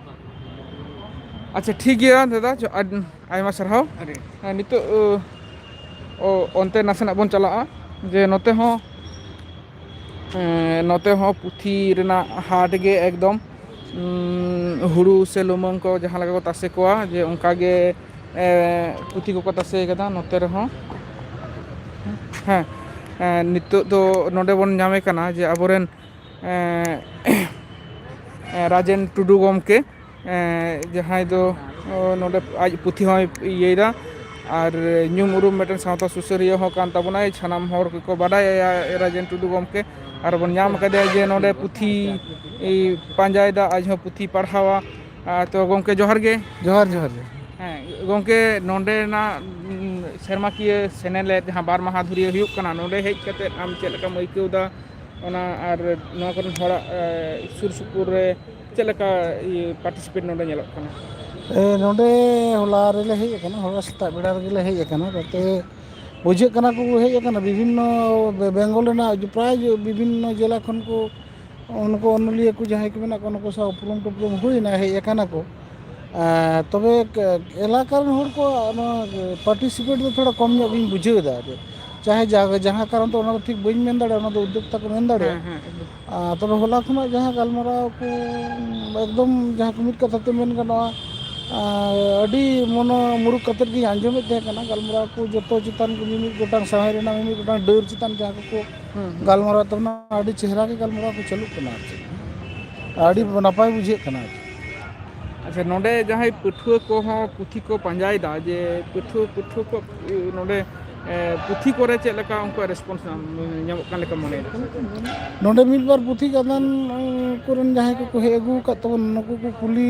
ᱟᱪᱪᱷᱟ ᱴᱷᱤᱠ ᱜᱮᱭᱟ ᱫᱟᱫᱟ ᱟᱭᱢᱟ ᱥᱟᱨᱦᱟᱣ ᱱᱤᱛᱚᱜ ᱚᱱᱛᱮ ᱱᱟᱥᱮᱱᱟᱜ ᱵᱚᱱ ᱪᱟᱞᱟᱜᱼᱟ ᱡᱮ ᱱᱚᱛᱮ ᱦᱚᱸ ᱱᱚᱛᱮ ᱦᱚᱸ ᱯᱩᱛᱷᱤ ᱨᱮᱱᱟᱜ ᱦᱟᱴ ᱜᱮ ᱮᱠᱫᱚᱢ ᱦᱩᱲᱩ ᱥᱮ ᱞᱩᱢᱟᱹᱝ ᱠᱚ ᱡᱟᱦᱟᱸ ᱞᱮᱠᱟ ᱠᱚ ᱛᱟᱥᱮ ᱠᱚᱣᱟ ᱡᱮ ᱚᱱᱠᱟ ᱜᱮ ᱯᱩᱛᱷᱤ ᱠᱚᱠᱚ ᱛᱟᱥᱮ ᱠᱟᱫᱟ ᱱᱚᱛᱮ ᱨᱮᱦᱚᱸ ᱦᱮᱸ ᱱᱤᱛᱚᱜ ᱫᱚ ᱱᱚᱰᱮ ᱵᱚᱱ ᱧᱟᱢᱮ ᱠᱟᱱᱟ ᱡᱮ ᱟᱵᱚᱨᱮᱱ ᱮᱸ ᱨᱟᱡᱮᱱ ᱴᱩᱰᱩ ᱜᱚᱢᱠᱮ ᱮᱸ ᱡᱟᱦᱟᱸᱭ ᱫᱚ ᱱᱚᱰᱮ ᱟᱡ ᱯᱩᱛᱷᱤ ᱦᱚᱸᱭ ᱤᱭᱟᱹᱭᱮᱫᱟ ᱟᱨ ᱧᱩᱢ ᱩᱨᱩᱢ ᱢᱤᱫᱴᱮᱱ ᱥᱟᱶᱛᱟ ᱥᱩᱥᱟᱹᱨᱤᱭᱟᱹ ᱦᱚᱸ ᱠᱟᱱ ᱛᱟᱵᱚᱱᱟᱭ ᱥᱟᱱᱟᱢ ᱦᱚᱲ ᱜᱮᱠᱚ ᱵᱟᱰᱟᱭᱟᱭᱟ ᱨᱟᱡᱮᱱ ᱴᱩᱰᱩ ᱜᱚᱢᱠᱮ ᱟᱨᱵᱚᱱ ᱧᱟᱢ ᱠᱟᱫᱮᱭᱟ ᱡᱮ ᱱᱚᱰᱮ ᱯᱩᱛᱷᱤ ᱯᱟᱸᱡᱟᱭᱮᱫᱟ ᱟᱡ ᱦᱚᱸ ᱯᱩᱛᱷᱤ ᱯᱟᱲᱦᱟᱣᱟ ᱛᱚ ᱜᱚᱢᱠᱮ ᱡᱚᱦᱟᱨ ᱜᱮ ᱡᱚᱦᱟᱨ ᱡᱚᱦᱟᱨ ᱜᱮ ᱦᱮᱸ ᱜᱚᱝᱠᱮ ᱱᱚᱰᱮᱱᱟᱜ ᱥᱮᱨᱢᱟᱠᱤᱭᱟᱹ ᱥᱮᱱᱮᱞᱮᱫ ᱡᱟᱦᱟᱸ ᱵᱟᱨ ᱢᱟᱦᱟ ᱫᱷᱩᱨᱭᱟᱹ ᱦᱩᱭᱩᱜ ᱠᱟᱱᱟ ᱱᱚᱰᱮ ᱦᱮᱡ ᱠᱟᱛᱮᱫ ᱟᱢ ᱪᱮᱫ ᱞᱮᱠᱟᱢ ᱟᱹᱭᱠᱟᱹᱣ ᱮᱫᱟ ᱚᱱᱟ ᱟᱨ ᱱᱚᱣᱟ ᱠᱚᱨᱮᱱ ᱦᱚᱲᱟᱜ ᱥᱩᱨ ᱥᱩᱯᱩᱨ ᱨᱮ ᱪᱮᱫ ᱞᱮᱠᱟ ᱤᱭᱟᱹ ᱯᱟᱴᱤᱥᱤᱯᱮᱴ ᱱᱚᱰᱮ ᱧᱮᱞᱚᱜ ᱠᱟᱱᱟ? ᱮᱸ ᱱᱚᱸᱰᱮ ᱦᱚᱞᱟ ᱨᱮᱞᱮ ᱦᱮᱡ ᱟᱠᱟᱱᱟ ᱦᱚᱞᱟ ᱥᱮᱛᱟᱜ ᱵᱮᱲᱟ ᱨᱮᱜᱮᱞᱮ ᱦᱮᱡ ᱟᱠᱟᱱᱟ ᱜᱟᱛᱮ ᱵᱩᱡᱷᱟᱹᱜ ᱠᱟᱱᱟ ᱠᱚ ᱦᱮᱡ ᱟᱠᱟᱱᱟ ᱵᱤᱵᱷᱤᱱᱱᱚ ᱵᱮᱝᱜᱚᱞ ᱨᱮᱱᱟᱜ ᱯᱨᱟᱭ ᱵᱤᱵᱷᱤᱱᱱᱚ ᱡᱮᱞᱟ ᱠᱷᱚᱱ ᱠᱚ ᱩᱱᱠᱩ ᱚᱱᱚᱞᱤᱭᱟᱹ ᱠᱚ ᱡᱟᱦᱟᱸᱭ ᱠᱚ ᱢᱮᱱᱟᱜ ᱠᱚᱣᱟ ᱱᱩᱠᱩ ᱥᱟᱶ ᱩᱯᱨᱩᱢ ᱴᱩᱯᱨᱩᱢ ᱦᱩᱭᱱᱟ ᱦᱮᱡ ᱟᱠᱟᱱᱟ ᱠᱚ᱾ ᱮᱸ ᱛᱚᱵᱮ ᱮᱞᱟᱠᱟ ᱨᱮᱱ ᱦᱚᱲ ᱠᱚ ᱱᱚᱣᱟ ᱯᱟᱴᱤᱥᱤᱯᱮᱴ ᱫᱚ ᱛᱷᱚᱲᱟ ᱠᱚᱢ ᱧᱚᱜ ᱜᱤᱧ ᱵᱩᱡᱷᱟᱹᱣ ᱮᱫᱟ ᱟᱨ ᱪᱟᱦᱮ ᱡᱟᱦᱟᱸ ᱠᱟᱨᱚᱱ ᱛᱮ ᱚᱱᱟ ᱫᱚ ᱴᱷᱤᱠ ᱵᱟᱹᱧ ᱢᱮᱱ ᱫᱟᱲᱮᱭᱟᱜᱼᱟ ᱚᱱᱟ ᱫᱚ ᱩᱫᱽᱫᱳᱜᱽ ᱛᱟᱠᱚ ᱢᱮᱱ ᱦᱮᱸ ᱫᱟᱲᱮᱭᱟᱜᱼᱟ ᱦᱮᱸ ᱮᱠᱫᱚᱢ ᱟᱨ ᱛᱚᱵᱮ ᱦᱚᱞᱟ ᱠᱷᱚᱱᱟᱜ ᱡᱟᱦᱟᱸ ᱜᱟᱞᱢᱟᱨᱟᱣ ᱠᱚ ᱮᱠᱫᱚᱢ ᱡᱟᱦᱟᱸ ᱠᱚ ᱢᱤᱫ ᱠᱟᱛᱷᱟ ᱛᱮ ᱢᱮᱱ ᱜᱟᱱᱚᱜᱼᱟ ᱟᱹᱰᱤ ᱢᱚᱱᱚ ᱢᱩᱨᱩᱠ ᱠᱟᱛᱮᱫ ᱜᱤᱧ ᱟᱸᱡᱚᱢᱮᱫ ᱛᱟᱦᱮᱸ ᱠᱟᱱᱟ ᱜᱟᱞᱢᱟᱨᱟᱣ ᱠᱚ ᱡᱚᱛᱚ ᱪᱮᱛᱟᱱ ᱠᱚ ᱢᱤᱢᱤᱫ ᱜᱚᱴᱟᱝ ᱥᱟᱶᱦᱮ ᱨᱮᱱᱟᱜ ᱢᱤᱢᱤᱫ ᱜᱚᱴᱟᱝ ᱰᱟᱹᱨ ᱪᱮᱛᱟᱱ ᱡᱟᱦᱟᱸ ᱠᱚᱠᱚ ᱦᱩᱸ ᱦᱩᱸ ᱜᱟᱞᱢᱟᱨᱟᱣ ᱛᱟᱵᱚᱱᱟ ᱟᱹᱰᱤ ᱪᱮᱦᱨᱟ ᱜᱮ ᱜᱟᱞᱢᱟᱨᱟᱣ ᱠᱚ ᱪᱟᱹᱞᱩᱜ ᱠᱟᱱᱟ ᱟᱨ ᱪᱮᱫ ᱟᱹᱰᱤ ᱟᱪᱪᱷᱟ ᱱᱟᱯᱟᱭ ᱵᱩᱡᱷᱟᱹᱜ ᱠᱟᱱᱟ ᱟᱨ ᱪᱮᱫ ᱟᱪᱪᱷᱟ ᱱᱚᱰᱮ ᱡᱟᱦᱟᱸᱭ ᱯᱟᱹᱴᱷᱩᱣᱟᱹ ᱠᱚᱦᱚᱸ ᱯᱩᱛᱷᱤ ᱠᱚ ᱯᱟᱸᱡᱟᱭᱮᱫᱟ ᱡᱮ ᱯᱟᱹᱴᱷᱩᱣᱟᱹ ᱯᱟᱹᱴᱷᱩᱣᱟᱹ ᱠᱚ ᱱᱚᱰᱮ ᱮᱸ, ᱯᱩᱛᱷᱤ ᱠᱚᱨᱮ ᱪᱮᱫ ᱞᱮᱠᱟ ᱩᱱᱠᱩᱣᱟᱜ ᱨᱮᱥᱯᱚᱱᱥ ᱧᱟᱢᱚᱜ ᱠᱟᱱ ᱞᱮᱠᱟ ᱢᱚᱱᱮᱭᱮᱫᱟ ᱱᱚᱰᱮ ᱢᱤᱫ ᱵᱟᱨ ᱯᱩᱛᱷᱤ ᱜᱟᱫᱟᱱ ᱩᱸ, ᱠᱚᱨᱮᱱ ᱡᱟᱦᱟᱸᱭ ᱠᱚᱠᱚ ᱦᱮᱡ ᱟᱹᱜᱩ ᱟᱠᱟᱫ ᱛᱟᱵᱚᱱ ᱱᱩᱠᱩ ᱠᱚ ᱠᱩᱞᱤ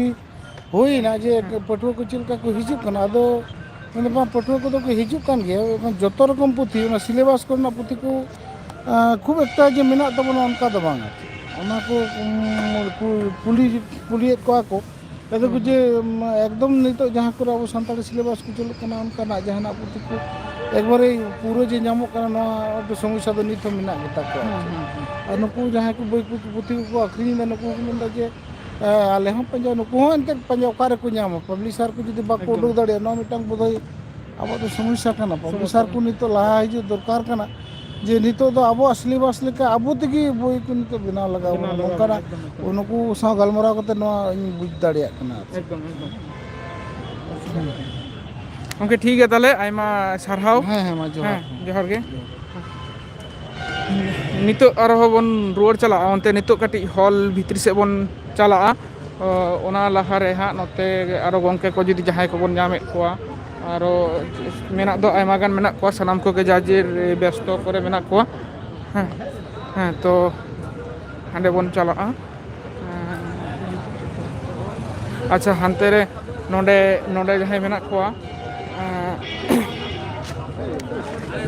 ᱦᱩᱭᱱᱟ ᱡᱮ ᱯᱟᱹᱴᱷᱩᱣᱟᱹ ᱠᱚ ᱪᱮᱫ ᱞᱮᱠᱟ ᱠᱚ ᱦᱤᱡᱩᱜ ᱠᱟᱱᱟ ᱟᱫᱚ ᱢᱮᱱᱫᱟ ᱵᱟᱝ ᱯᱟᱹᱴᱷᱩᱣᱟᱹ ᱠᱚᱫᱚ ᱠᱚ ᱦᱤᱡᱩᱜ ᱠᱟᱱ ᱜᱮᱭᱟ ᱡᱚᱛᱚ ᱨᱚᱠᱚᱢ ᱯᱩᱛᱷᱤ ᱚᱱᱟ ᱥᱤᱞᱮᱵᱟᱥ ᱠᱚᱨᱮᱱᱟᱜ ᱯᱩᱛᱷᱤ ᱠᱚ ᱠᱷᱩᱵ ᱮᱠᱴᱟ ᱡᱮ ᱢᱮᱱᱟᱜ ᱛᱟᱵᱚᱱᱟ ᱚᱱᱠᱟ ᱫᱚ ᱵᱟᱝ ᱟᱨᱠᱤ ᱚᱱᱟ ᱠᱚ ᱠᱩᱞᱤ ᱠᱩᱞᱤᱭᱮᱫ ᱠᱚᱣᱟ ᱠᱚ ᱟᱫᱚ ᱠᱚ ᱡᱮ ᱮᱠᱫᱚᱢ ᱱᱤᱛᱚᱜ ᱡᱟᱦᱟᱸ ᱠᱚᱨᱮ ᱟᱵᱚ ᱥᱟᱱᱛᱟᱲᱤ ᱥᱤᱞᱮᱵᱟᱥ ᱠᱚ ᱪᱟᱹᱞᱩᱜ ᱠᱟᱱᱟ ᱚᱱᱠᱟᱱᱟᱜ ᱡᱟᱦᱟᱱᱟᱜ ᱯᱩᱛᱷᱤ ᱠᱚ ᱮᱠᱵᱟᱨᱮ ᱯᱩᱨᱟᱹ ᱡᱮ ᱧᱟᱢᱚᱜ ᱠᱟᱱᱟ ᱱᱚᱣᱟ ᱫᱚ ᱥᱚᱢᱚᱥᱥᱟ ᱫᱚ ᱱᱤᱛ ᱦᱚᱸ ᱢᱮᱱᱟᱜ ᱜᱮᱛᱟ ᱠᱚᱣᱟ ᱟᱨ ᱱᱩᱠᱩ ᱡᱟᱦᱟᱸᱭ ᱠᱚ ᱵᱳᱭ ᱠᱚ ᱯᱩᱛᱷᱤ ᱠᱚᱠᱚ ᱟᱠᱷᱨᱤᱧᱮᱫᱟ ᱱᱩᱠᱩ ᱠᱚ ᱢᱮᱱᱫᱟ ᱡᱮ ᱟᱞᱮ ᱦᱚᱸ ᱯᱟᱸᱡᱟ ᱱᱩᱠᱩ ᱦᱚᱸ ᱮᱱᱛᱮᱫ ᱯᱟᱸᱡᱟ ᱚᱠᱟ ᱨᱮᱠᱚ ᱧᱟᱢᱟ ᱯᱟᱵᱽᱞᱤᱥᱟᱨ ᱠᱚ ᱡᱩᱫᱤ ᱵᱟᱠᱚ ᱩᱰᱩᱠ ᱫᱟᱲᱮᱭᱟᱜᱼᱟ ᱱᱚᱣᱟ ᱢᱤᱫᱴᱟᱱ ᱵᱳᱫᱷᱚᱭ ᱟᱵᱚ ᱫᱚ ᱥᱚᱢᱚᱥᱥᱟ ᱠᱟᱱᱟ ᱯᱨᱚᱯᱷᱮᱥᱟᱨ ᱠᱚ ᱱᱤᱛᱚᱜ ᱞᱟᱦᱟ ᱦᱤᱡᱩᱜ ᱫᱚᱨᱠᱟᱨ ᱠᱟᱱᱟ ᱡᱮ ᱱᱤᱛᱚᱜ ᱫᱚ ᱟᱵᱚᱣᱟᱜ ᱥᱤᱞᱮᱵᱟᱥ ᱞᱮᱠᱟ ᱟᱵᱚ ᱛᱮᱜᱮ ᱵᱳᱭ ᱠᱚ ᱱᱤᱛᱚᱜ ᱵᱮᱱᱟᱣ ᱞᱟᱜᱟᱣ ᱵᱚᱱᱟ ᱱᱚᱝᱠᱟᱱᱟᱜ ᱩᱱᱠᱩ ᱥᱟᱶ ᱜᱟᱞᱢᱟᱨᱟᱣ ᱠᱟᱛᱮ ᱱᱚᱣᱟ ᱤᱧ ᱵᱩᱡᱽ ᱫᱟᱲᱮᱭᱟᱜ ᱠᱟᱱᱟ ᱮᱠᱫᱚᱢ ᱮᱠᱫᱚᱢ ᱜᱚᱝᱠᱮ ᱴᱷᱤᱠ ᱜᱮᱭᱟ ᱛᱟᱦᱚᱞᱮ ᱟᱭᱢᱟ ᱥᱟᱨᱦᱟᱣ ᱦᱮᱸ ᱦᱮᱸ ᱢᱟ ᱡᱚᱦᱟᱨ ᱦᱮᱸ ᱡᱚᱦᱟᱨ ᱜᱮ ᱱᱤᱛᱚᱜ ᱟᱨᱦᱚᱸ ᱵᱚᱱ ᱨᱩᱣᱟᱹᱲ ᱪᱟᱞᱟᱜᱼᱟ ᱚᱱᱛᱮ ᱱᱤᱛᱚᱜ ᱠᱟᱹᱴᱤᱡ ᱦᱚᱞ ᱵᱷᱤᱛᱨᱤ ᱥᱮᱫ ᱵᱚᱱ ᱪᱟᱞᱟᱜᱼᱟ ᱚᱱᱟ ᱞᱟᱦᱟᱨᱮ ᱦᱟᱸᱜ ᱱᱚᱛᱮ ᱟᱨᱚ ᱜᱚᱢᱠᱮ ᱠᱚ ᱡᱩᱫᱤ ᱡᱟᱦᱟᱸᱭ ᱠᱚᱵᱚᱱ ᱧᱟᱢᱮᱫ ᱠᱚᱣᱟ ᱟᱨᱚ ᱢᱮᱱᱟᱜ ᱫᱚ ᱟᱭᱢᱟ ᱜᱟᱱ ᱢᱮᱱᱟᱜ ᱠᱚᱣᱟ ᱥᱟᱱᱟᱢ ᱠᱚᱜᱮ ᱡᱟᱨ ᱡᱮᱨ ᱵᱮᱥᱛᱚ ᱠᱚᱨᱮ ᱢᱮᱱᱟᱜ ᱠᱚᱣᱟ ᱦᱮᱸ ᱦᱮᱸ ᱛᱚ ᱦᱟᱸᱰᱮ ᱵᱚᱱ ᱪᱟᱞᱟᱜᱼᱟ ᱟᱪᱪᱷᱟ ᱦᱟᱱᱛᱮ ᱨᱮ ᱱᱚᱰᱮ ᱱᱚᱰᱮ ᱡᱟᱦᱟᱸᱭ ᱢᱮᱱᱟᱜ ᱠᱚᱣᱟ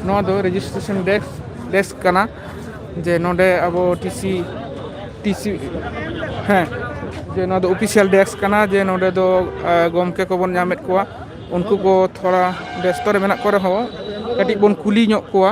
ᱱᱚᱣᱟ ᱫᱚ ᱨᱮᱡᱤᱥᱴᱨᱮᱥᱚᱱ ᱰᱮᱥᱠ ᱰᱮᱥᱠ ᱠᱟᱱᱟ ᱡᱮ ᱱᱚᱰᱮ ᱟᱵᱚ ᱴᱤᱥᱤ ᱴᱤᱥᱤ ᱦᱮᱸ ᱡᱮ ᱱᱚᱣᱟ ᱫᱚ ᱚᱯᱷᱤᱥᱤᱭᱟᱞ ᱰᱮᱥᱠ ᱠᱟᱱᱟ ᱡᱮ ᱱᱚᱰᱮ ᱫᱚ ᱜᱚᱢᱠᱮ ᱠᱚᱵᱚᱱ ᱧᱟᱢᱮᱫ ᱠᱚᱣᱟ ᱩᱱᱠᱩ ᱠᱚ ᱛᱷᱚᱲᱟ ᱵᱮᱥᱛᱚ ᱨᱮ ᱢᱮᱱᱟᱜ ᱠᱚ ᱨᱮᱦᱚᱸ ᱠᱟᱹᱴᱤᱡ ᱵᱚᱱ ᱠᱩᱞᱤ ᱧᱚᱜ ᱠᱚᱣᱟ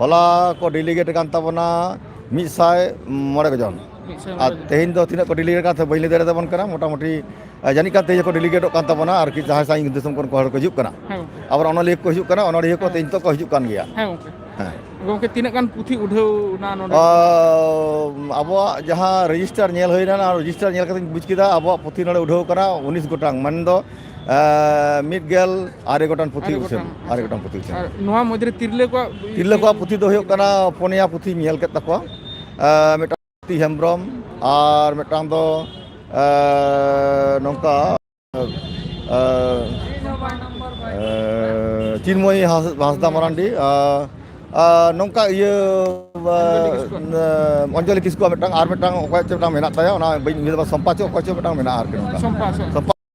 ᱦᱚᱞᱟ ᱠᱚ ᱰᱮᱞᱤᱜᱮᱴ ᱠᱟᱱ ᱛᱟᱵᱚᱱᱟ ᱢᱤᱫ ᱥᱟᱭ ᱢᱚᱬᱮ ᱡᱚᱱ ᱟᱨ ᱛᱮᱦᱮᱧ ᱫᱚ ᱛᱤᱱᱟᱹᱜ ᱠᱚ ᱰᱮᱞᱤᱜᱮᱴ ᱠᱟᱱ ᱵᱟᱹᱧ ᱞᱟᱹᱭ ᱫᱟᱲᱮ ᱛᱟᱵᱚᱱ ᱠᱟᱱᱟ ᱢᱚᱴᱟᱢᱩᱴᱤ ᱡᱟᱹᱱᱤᱡ ᱠᱟᱱ ᱛᱮᱦᱮᱧ ᱠᱚ ᱰᱮᱞᱤᱜᱮᱴᱚᱜ ᱠᱟᱱ ᱛᱟᱵᱚᱱᱟ ᱟᱨ ᱠᱤ ᱡᱟᱦᱟᱸᱭ ᱥᱟᱺᱜᱤᱧ ᱫᱤᱥᱚᱢ ᱠᱷᱚᱱ ᱦᱚᱲ ᱠᱚ ᱦᱤᱡᱩᱜ ᱠᱟᱱᱟ ᱟᱵᱟᱨ ᱚᱱᱚᱞᱤᱭᱟᱹ ᱠᱚ ᱦᱤᱡᱩᱜ ᱠᱟᱱᱟ ᱚᱱᱚᱞᱤᱭᱟᱹ ᱠᱚ ᱛᱮᱦᱮᱧ ᱱᱤᱛᱚᱜ ᱠᱚ ᱦᱤᱡᱩᱜ ᱠᱟᱱ ᱜᱮᱭᱟ ᱦᱮᱸ ᱜᱚᱝᱠᱮ ᱛᱤᱱᱟᱹᱜ ᱜᱟᱱ ᱯᱩᱛᱷᱤ ᱩᱰᱷᱟᱹᱣ ᱱᱟ ᱱᱚᱰᱮ ᱟᱵᱚᱣᱟᱜ ᱡᱟᱦᱟᱸ ᱨᱮᱡᱤᱥᱴᱟᱨ ᱧᱮᱞ ᱦᱩᱭᱱᱟ ᱨᱮᱡᱤᱥᱴᱟᱨ ᱧᱮᱞ ᱠᱟᱛᱮᱧ ᱵᱩᱡᱽ ᱠᱮᱫᱟ ᱟᱵᱚᱣᱟᱜ ᱯᱩᱛᱷᱤ ᱱᱚᱰᱮ ᱩᱰᱷᱟᱹᱣ ᱠᱟᱱᱟ ᱩᱱᱤᱥ ᱜᱚᱴᱟᱝ ᱢᱮᱱᱫᱚ ᱢᱤᱫ ᱜᱮᱞ ᱟᱨᱮ ᱜᱚᱴᱟᱝ ᱯᱩᱛᱷᱤ ᱩᱪᱷᱟᱹᱱ ᱟᱨᱮ ᱜᱚᱴᱟᱝ ᱯᱩᱛᱷᱤ ᱩᱪᱷᱟᱹᱱ ᱱᱚᱣᱟ ᱢᱚᱫᱽᱫᱷᱮ ᱛᱤᱨᱞᱟᱹ ᱠᱚᱣᱟᱜ ᱛᱤᱨᱞᱟᱹ ᱠᱚᱣᱟᱜ ᱯᱩᱛᱷᱤ ᱫᱚ ᱦᱩᱭᱩᱜ ᱠᱟᱱᱟ ᱯᱩᱱᱭᱟ ᱯᱩᱛᱷᱤ ᱧᱮᱞ ᱠᱮᱫ ᱛᱟᱠᱚᱣᱟ ᱢᱤᱫᱴᱟᱝ ᱯᱩᱛᱷᱤ ᱦᱮᱢᱵᱨᱚᱢ ᱟᱨ ᱢᱤᱫᱴᱟᱝ ᱫᱚ ᱱᱚᱝᱠᱟ ᱪᱤᱱᱢᱚᱭ ᱦᱟᱸᱥᱫᱟ ᱢᱟᱨᱟᱱᱰᱤ ᱱᱚᱝᱠᱟ ᱤᱭᱟᱹ ᱚᱧᱡᱚᱞᱤ ᱠᱤᱥᱠᱩᱣᱟᱜ ᱢᱤᱫᱴᱟᱝ ᱟᱨ ᱢᱤᱫᱴᱟᱝ ᱚᱠᱚᱭᱟᱜ ᱪᱮᱫ ᱢᱤᱫᱴᱟᱝ ᱢᱮᱱᱟᱜ ᱛᱟᱭᱟ ᱚᱱᱟ ᱵᱟᱹᱧ ᱩᱭᱦᱟᱹᱨ ᱫᱟ ᱥᱚᱢᱯᱟ ᱪᱮᱫ ᱚᱠᱚᱭ ᱪᱮᱫ ᱢᱤᱫᱴᱟᱝ ᱢᱮᱱᱟᱜᱼᱟ ᱟᱨᱠᱤ ᱥᱚᱢᱯᱟ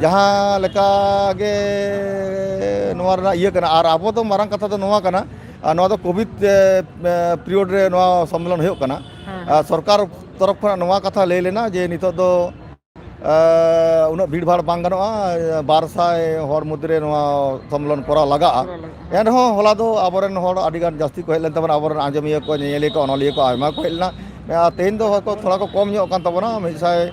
ᱡᱟᱦᱟᱸ ᱞᱮᱠᱟ ᱜᱮ ᱱᱚᱣᱟ ᱨᱮᱱᱟᱜ ᱤᱭᱟᱹ ᱠᱟᱱᱟ ᱟᱨ ᱟᱵᱚ ᱫᱚ ᱢᱟᱨᱟᱝ ᱠᱟᱛᱷᱟ ᱫᱚ ᱱᱚᱣᱟ ᱠᱟᱱᱟ ᱟᱨ ᱱᱚᱣᱟ ᱫᱚ ᱠᱳᱵᱷᱤᱰ ᱯᱤᱨᱤᱭᱳᱰ ᱨᱮ ᱱᱚᱣᱟ ᱥᱚᱢᱢᱮᱞᱚᱱ ᱦᱩᱭᱩᱜ ᱠᱟᱱᱟ ᱟᱨ ᱥᱚᱨᱠᱟᱨ ᱛᱚᱨᱚᱯᱷ ᱠᱷᱚᱱᱟᱜ ᱱᱚᱣᱟ ᱠᱟᱛᱷᱟ ᱞᱟᱹᱭ ᱞᱮᱱᱟ ᱡᱮ ᱱᱤᱛᱚᱜ ᱫᱚ ᱟᱸ, ᱩᱱᱟᱹᱜ ᱵᱷᱤᱲ ᱵᱷᱟᱲ ᱵᱟᱝ ᱜᱟᱱᱚᱜᱼᱟ ᱵᱟᱨ ᱥᱟᱭ ᱦᱚᱲ ᱢᱚᱫᱽᱫᱷᱮ ᱨᱮ ᱱᱚᱣᱟ ᱥᱚᱢᱢᱮᱞᱚᱱ ᱠᱚᱨᱟᱣ ᱞᱟᱜᱟᱜᱼᱟ ᱮᱱᱨᱮᱦᱚᱸ ᱦᱚᱞᱟ ᱫᱚ ᱟᱵᱚᱨᱮᱱ ᱦᱚᱲ ᱟᱹᱰᱤᱜᱟᱱ ᱡᱟᱹᱥᱛᱤ ᱠᱚ ᱦᱮᱡ ᱞᱮᱱ ᱛᱟᱵᱚᱱᱟ ᱟᱵᱚᱨᱮᱱ ᱟᱸᱡᱚᱢᱤᱭᱟᱹ ᱠᱚ ᱧᱮᱧᱮᱞᱤᱭᱟᱹ ᱠᱚ ᱚᱱᱚᱞᱤᱭᱟᱹ ᱠᱚ ᱟᱭᱢᱟ ᱠᱚ ᱦᱮᱡ ᱞᱮᱱᱟ ᱟᱨ ᱛᱮᱦᱮᱧ ᱫᱚ ᱦᱚᱭᱛᱚ ᱛᱷᱚᱲᱟ ᱠᱚ ᱠᱚᱢ ᱧᱚᱜ ᱠᱟᱱ ᱛᱟᱵᱚᱱᱟ ᱢᱤᱫ ᱥᱟᱭ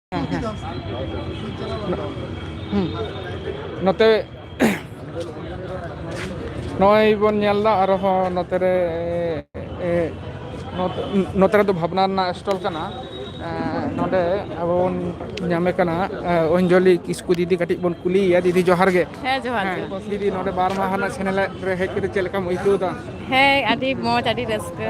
ᱦᱮᱸ ᱦᱮᱸ ᱦᱩᱸ ᱱᱚᱛᱮ ᱱᱚᱜᱼᱚᱭ ᱵᱚᱱ ᱧᱮᱞ ᱮᱫᱟ ᱟᱨ ᱦᱚᱸ ᱱᱚᱛᱮ ᱨᱮ ᱱᱚᱛᱮ ᱨᱮᱫᱚ ᱵᱷᱟᱵᱽᱱᱟ ᱨᱮᱱᱟᱜ ᱥᱴᱚᱞ ᱠᱟᱱᱟ ᱱᱚᱸᱰᱮ ᱟᱵᱚ ᱵᱚᱱ ᱧᱟᱢᱮ ᱠᱟᱱᱟ ᱚᱧᱡᱚᱞᱤ ᱠᱤᱥᱠᱩ ᱫᱤᱫᱤ ᱠᱟᱹᱴᱤᱡ ᱵᱚᱱ ᱠᱩᱞᱤᱭᱮᱭᱟ ᱫᱤᱫᱤ ᱡᱚᱦᱟᱨ ᱜᱮ ᱡᱚᱦᱟᱨ ᱦᱮᱸ ᱡᱚᱦᱟᱨ ᱫᱤᱫᱤ ᱱᱚᱰᱮ ᱵᱟᱨ ᱢᱟᱦᱟ ᱨᱮᱱᱟᱜ ᱥᱮᱱᱮᱞᱮᱫ ᱨᱮ ᱦᱮᱡ ᱠᱟᱛᱮ ᱪᱮᱫ ᱞᱮᱠᱟᱢ ᱟᱹᱭᱠᱟᱹᱣ ᱮᱫᱟ ᱦᱮᱸ ᱟᱹᱰᱤ ᱢᱚᱡᱽ ᱟᱹᱰᱤ ᱨᱟᱹᱥᱠᱟᱹ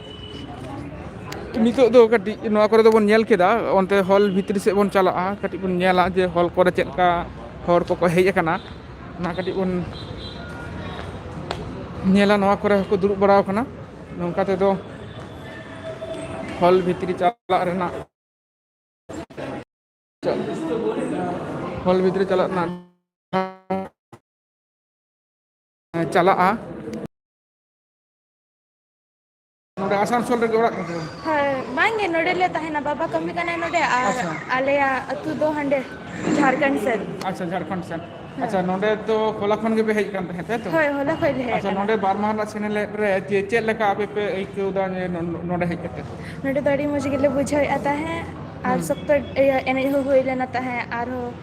ᱱᱤᱛᱚᱜ ᱫᱚ ᱠᱟᱹᱴᱤᱡ ᱱᱚᱣᱟ ᱠᱚᱨᱮ ᱫᱚᱵᱚᱱ ᱧᱮᱞ ᱠᱮᱫᱟ ᱚᱱᱛᱮ ᱦᱚᱞ ᱵᱷᱤᱛᱨᱤ ᱥᱮᱫ ᱵᱚᱱ ᱪᱟᱞᱟᱜᱼᱟ ᱠᱟᱹᱴᱤᱡ ᱵᱚᱱ ᱧᱮᱞᱟ ᱡᱮ ᱦᱚᱞ ᱠᱚᱨᱮ ᱪᱮᱫ ᱞᱮᱠᱟ ᱦᱚᱲ ᱠᱚᱠᱚ ᱦᱮᱡ ᱟᱠᱟᱱᱟ ᱚᱱᱟ ᱠᱟᱹᱴᱤᱡ ᱵᱚᱱ ᱧᱮᱞᱟ ᱱᱚᱣᱟ ᱠᱚᱨᱮ ᱦᱚᱸᱠᱚ ᱫᱩᱲᱩᱵ ᱵᱟᱲᱟ ᱟᱠᱟᱱᱟ ᱱᱚᱝᱠᱟ ᱛᱮᱫᱚ ᱦᱚᱞ ᱵᱷᱤᱛᱨᱤ ᱪᱟᱞᱟᱜ ᱨᱮᱱᱟᱜ ᱦᱚᱞ ᱵᱷᱤᱛᱨᱤ ᱪᱟᱞᱟᱜ ᱨᱮᱱᱟᱜ ᱪᱟᱞᱟᱜᱼᱟ ᱱᱚᱸᱰᱮ ᱟᱥᱟᱱᱥᱚᱞ ᱨᱮᱜᱮ ᱚᱲᱟᱜ ᱛᱟᱠᱚ ᱦᱮᱸ ᱵᱟᱝᱜᱮ ᱱᱚᱰᱮᱞᱮ ᱛᱟᱦᱮᱱᱟ ᱵᱟᱵᱟ ᱠᱟᱹᱢᱤ ᱠᱟᱱᱟᱭ ᱱᱚᱰᱮ ᱟᱨ ᱟᱪᱪᱷᱟ ᱟᱞᱮᱭᱟᱜ ᱟᱹᱛᱩ ᱫᱚ ᱦᱟᱸᱰᱮ ᱡᱷᱟᱲᱠᱷᱚᱸᱰ ᱥᱮᱫ ᱟᱪᱪᱷᱟ ᱡᱷᱟᱲᱠᱷᱚᱸᱰ ᱥᱮᱱ ᱦᱮᱸ ᱟᱪᱪᱷᱟ ᱱᱚᱸᱰᱮ ᱫᱚ ᱦᱚᱞᱟ ᱠᱷᱚᱱ ᱜᱮᱯᱮ ᱦᱮᱡ ᱟᱠᱟᱱ ᱛᱟᱦᱮᱸᱫ ᱛᱟᱭᱛᱚ ᱦᱳᱭ ᱦᱚᱞᱟ ᱠᱷᱚᱡ ᱞᱮ ᱦᱮᱡ ᱟᱪᱪᱷᱟ ᱟᱠᱟᱱᱟ ᱱᱚᱸᱰᱮ ᱵᱟᱨ ᱢᱟᱦᱟ ᱨᱮᱱᱟᱜ ᱥᱮᱱᱮᱞᱮᱫ ᱨᱮ ᱡᱮ ᱪᱮᱫ ᱞᱮᱠᱟ ᱟᱯᱮ ᱯᱮ ᱟᱹᱭᱠᱟᱹᱣ ᱮᱫᱟ ᱡᱮ ᱱᱚᱸᱰᱮ ᱦᱮᱡ ᱠᱟᱛᱮ ᱱᱚᱸᱰᱮ ᱫᱚ ᱟᱹᱰᱤ ᱢᱚᱸᱡᱽ ᱜᱮᱞᱮ ᱵᱩᱡᱷᱟᱹᱣᱮᱫᱼᱟ ᱛᱟᱦᱮᱸᱫ ᱟᱨ ᱦᱩᱸ ᱥᱚᱠᱛᱚ ᱤᱭᱟᱹ ᱮᱱᱮᱡ ᱦᱚᱸ ᱦᱩᱭ ᱞᱮᱱᱟ ᱛᱟᱦᱮᱸᱫ ᱟᱨᱦᱚᱸ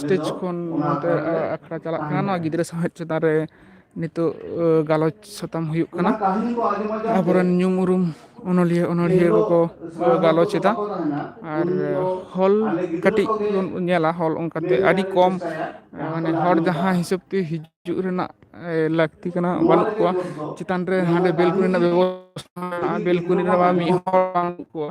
ᱥᱴᱮᱡᱽ ᱠᱷᱚᱱ ᱱᱚᱛᱮ ᱟᱠᱷᱲᱟ ᱪᱟᱞᱟᱜ ᱠᱟᱱᱟ ᱱᱚᱣᱟ ᱜᱤᱫᱽᱨᱟᱹ ᱥᱟᱶᱦᱮᱫ ᱪᱮᱛᱟᱱ ᱨᱮ ᱱᱤᱛᱚᱜ ᱜᱟᱞᱚᱪ ᱥᱟᱛᱟᱢ ᱦᱩᱭᱩᱜ ᱠᱟᱱᱟ ᱟᱵᱚᱨᱮᱱ ᱧᱩᱢ ᱩᱨᱩᱢ ᱚᱱᱚᱞᱤᱭᱟᱹ ᱚᱱᱚᱲᱦᱤᱭᱟᱹ ᱠᱚᱠᱚ ᱜᱟᱞᱚᱪ ᱮᱫᱟ ᱟᱨ ᱦᱚᱞ ᱠᱟᱹᱴᱤᱡ ᱵᱚᱱ ᱧᱮᱞᱟ ᱦᱚᱞ ᱚᱱᱠᱟᱛᱮ ᱟᱹᱰᱤ ᱠᱚᱢ ᱢᱟᱱᱮ ᱦᱚᱲ ᱡᱟᱦᱟᱸ ᱦᱤᱥᱟᱹᱵ ᱛᱮ ᱦᱤᱡᱩᱜ ᱨᱮᱱᱟᱜ ᱞᱟᱹᱠᱛᱤ ᱠᱟᱱᱟ ᱵᱟᱹᱱᱩᱜ ᱠᱚᱣᱟ ᱪᱮᱛᱟᱱ ᱨᱮ ᱦᱟᱸᱰᱮ ᱵᱮᱞᱠᱩᱱᱤ ᱨᱮᱱᱟᱜ ᱵᱮᱵᱚᱥᱛᱷᱟ ᱵᱮᱞᱠᱩᱱᱤ ᱨᱮᱢᱟ ᱢᱤᱫ ᱦᱚᱲ ᱵᱟᱹᱱᱩᱜ ᱠᱚᱣᱟ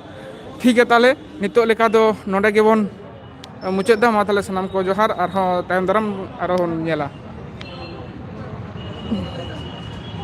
ᱴᱷᱤᱠ ᱜᱮᱭᱟ ᱛᱟᱦᱚᱞᱮ ᱱᱤᱛᱚᱜ ᱞᱮᱠᱟ ᱫᱚ ᱱᱚᱰᱮ ᱜᱮᱵᱚᱱ ᱢᱩᱪᱟᱹᱫ ᱫᱟ ᱢᱟ ᱛᱟᱦᱚᱞᱮ ᱥᱟᱱᱟᱢ ᱠᱚ ᱡᱚᱦᱟᱨ ᱟᱨᱦᱚᱸ ᱛᱟᱭᱚᱢ ᱫᱟᱨᱟᱢ ᱟᱨᱦᱚᱸ ᱵᱚᱱ ᱧᱮᱞᱟ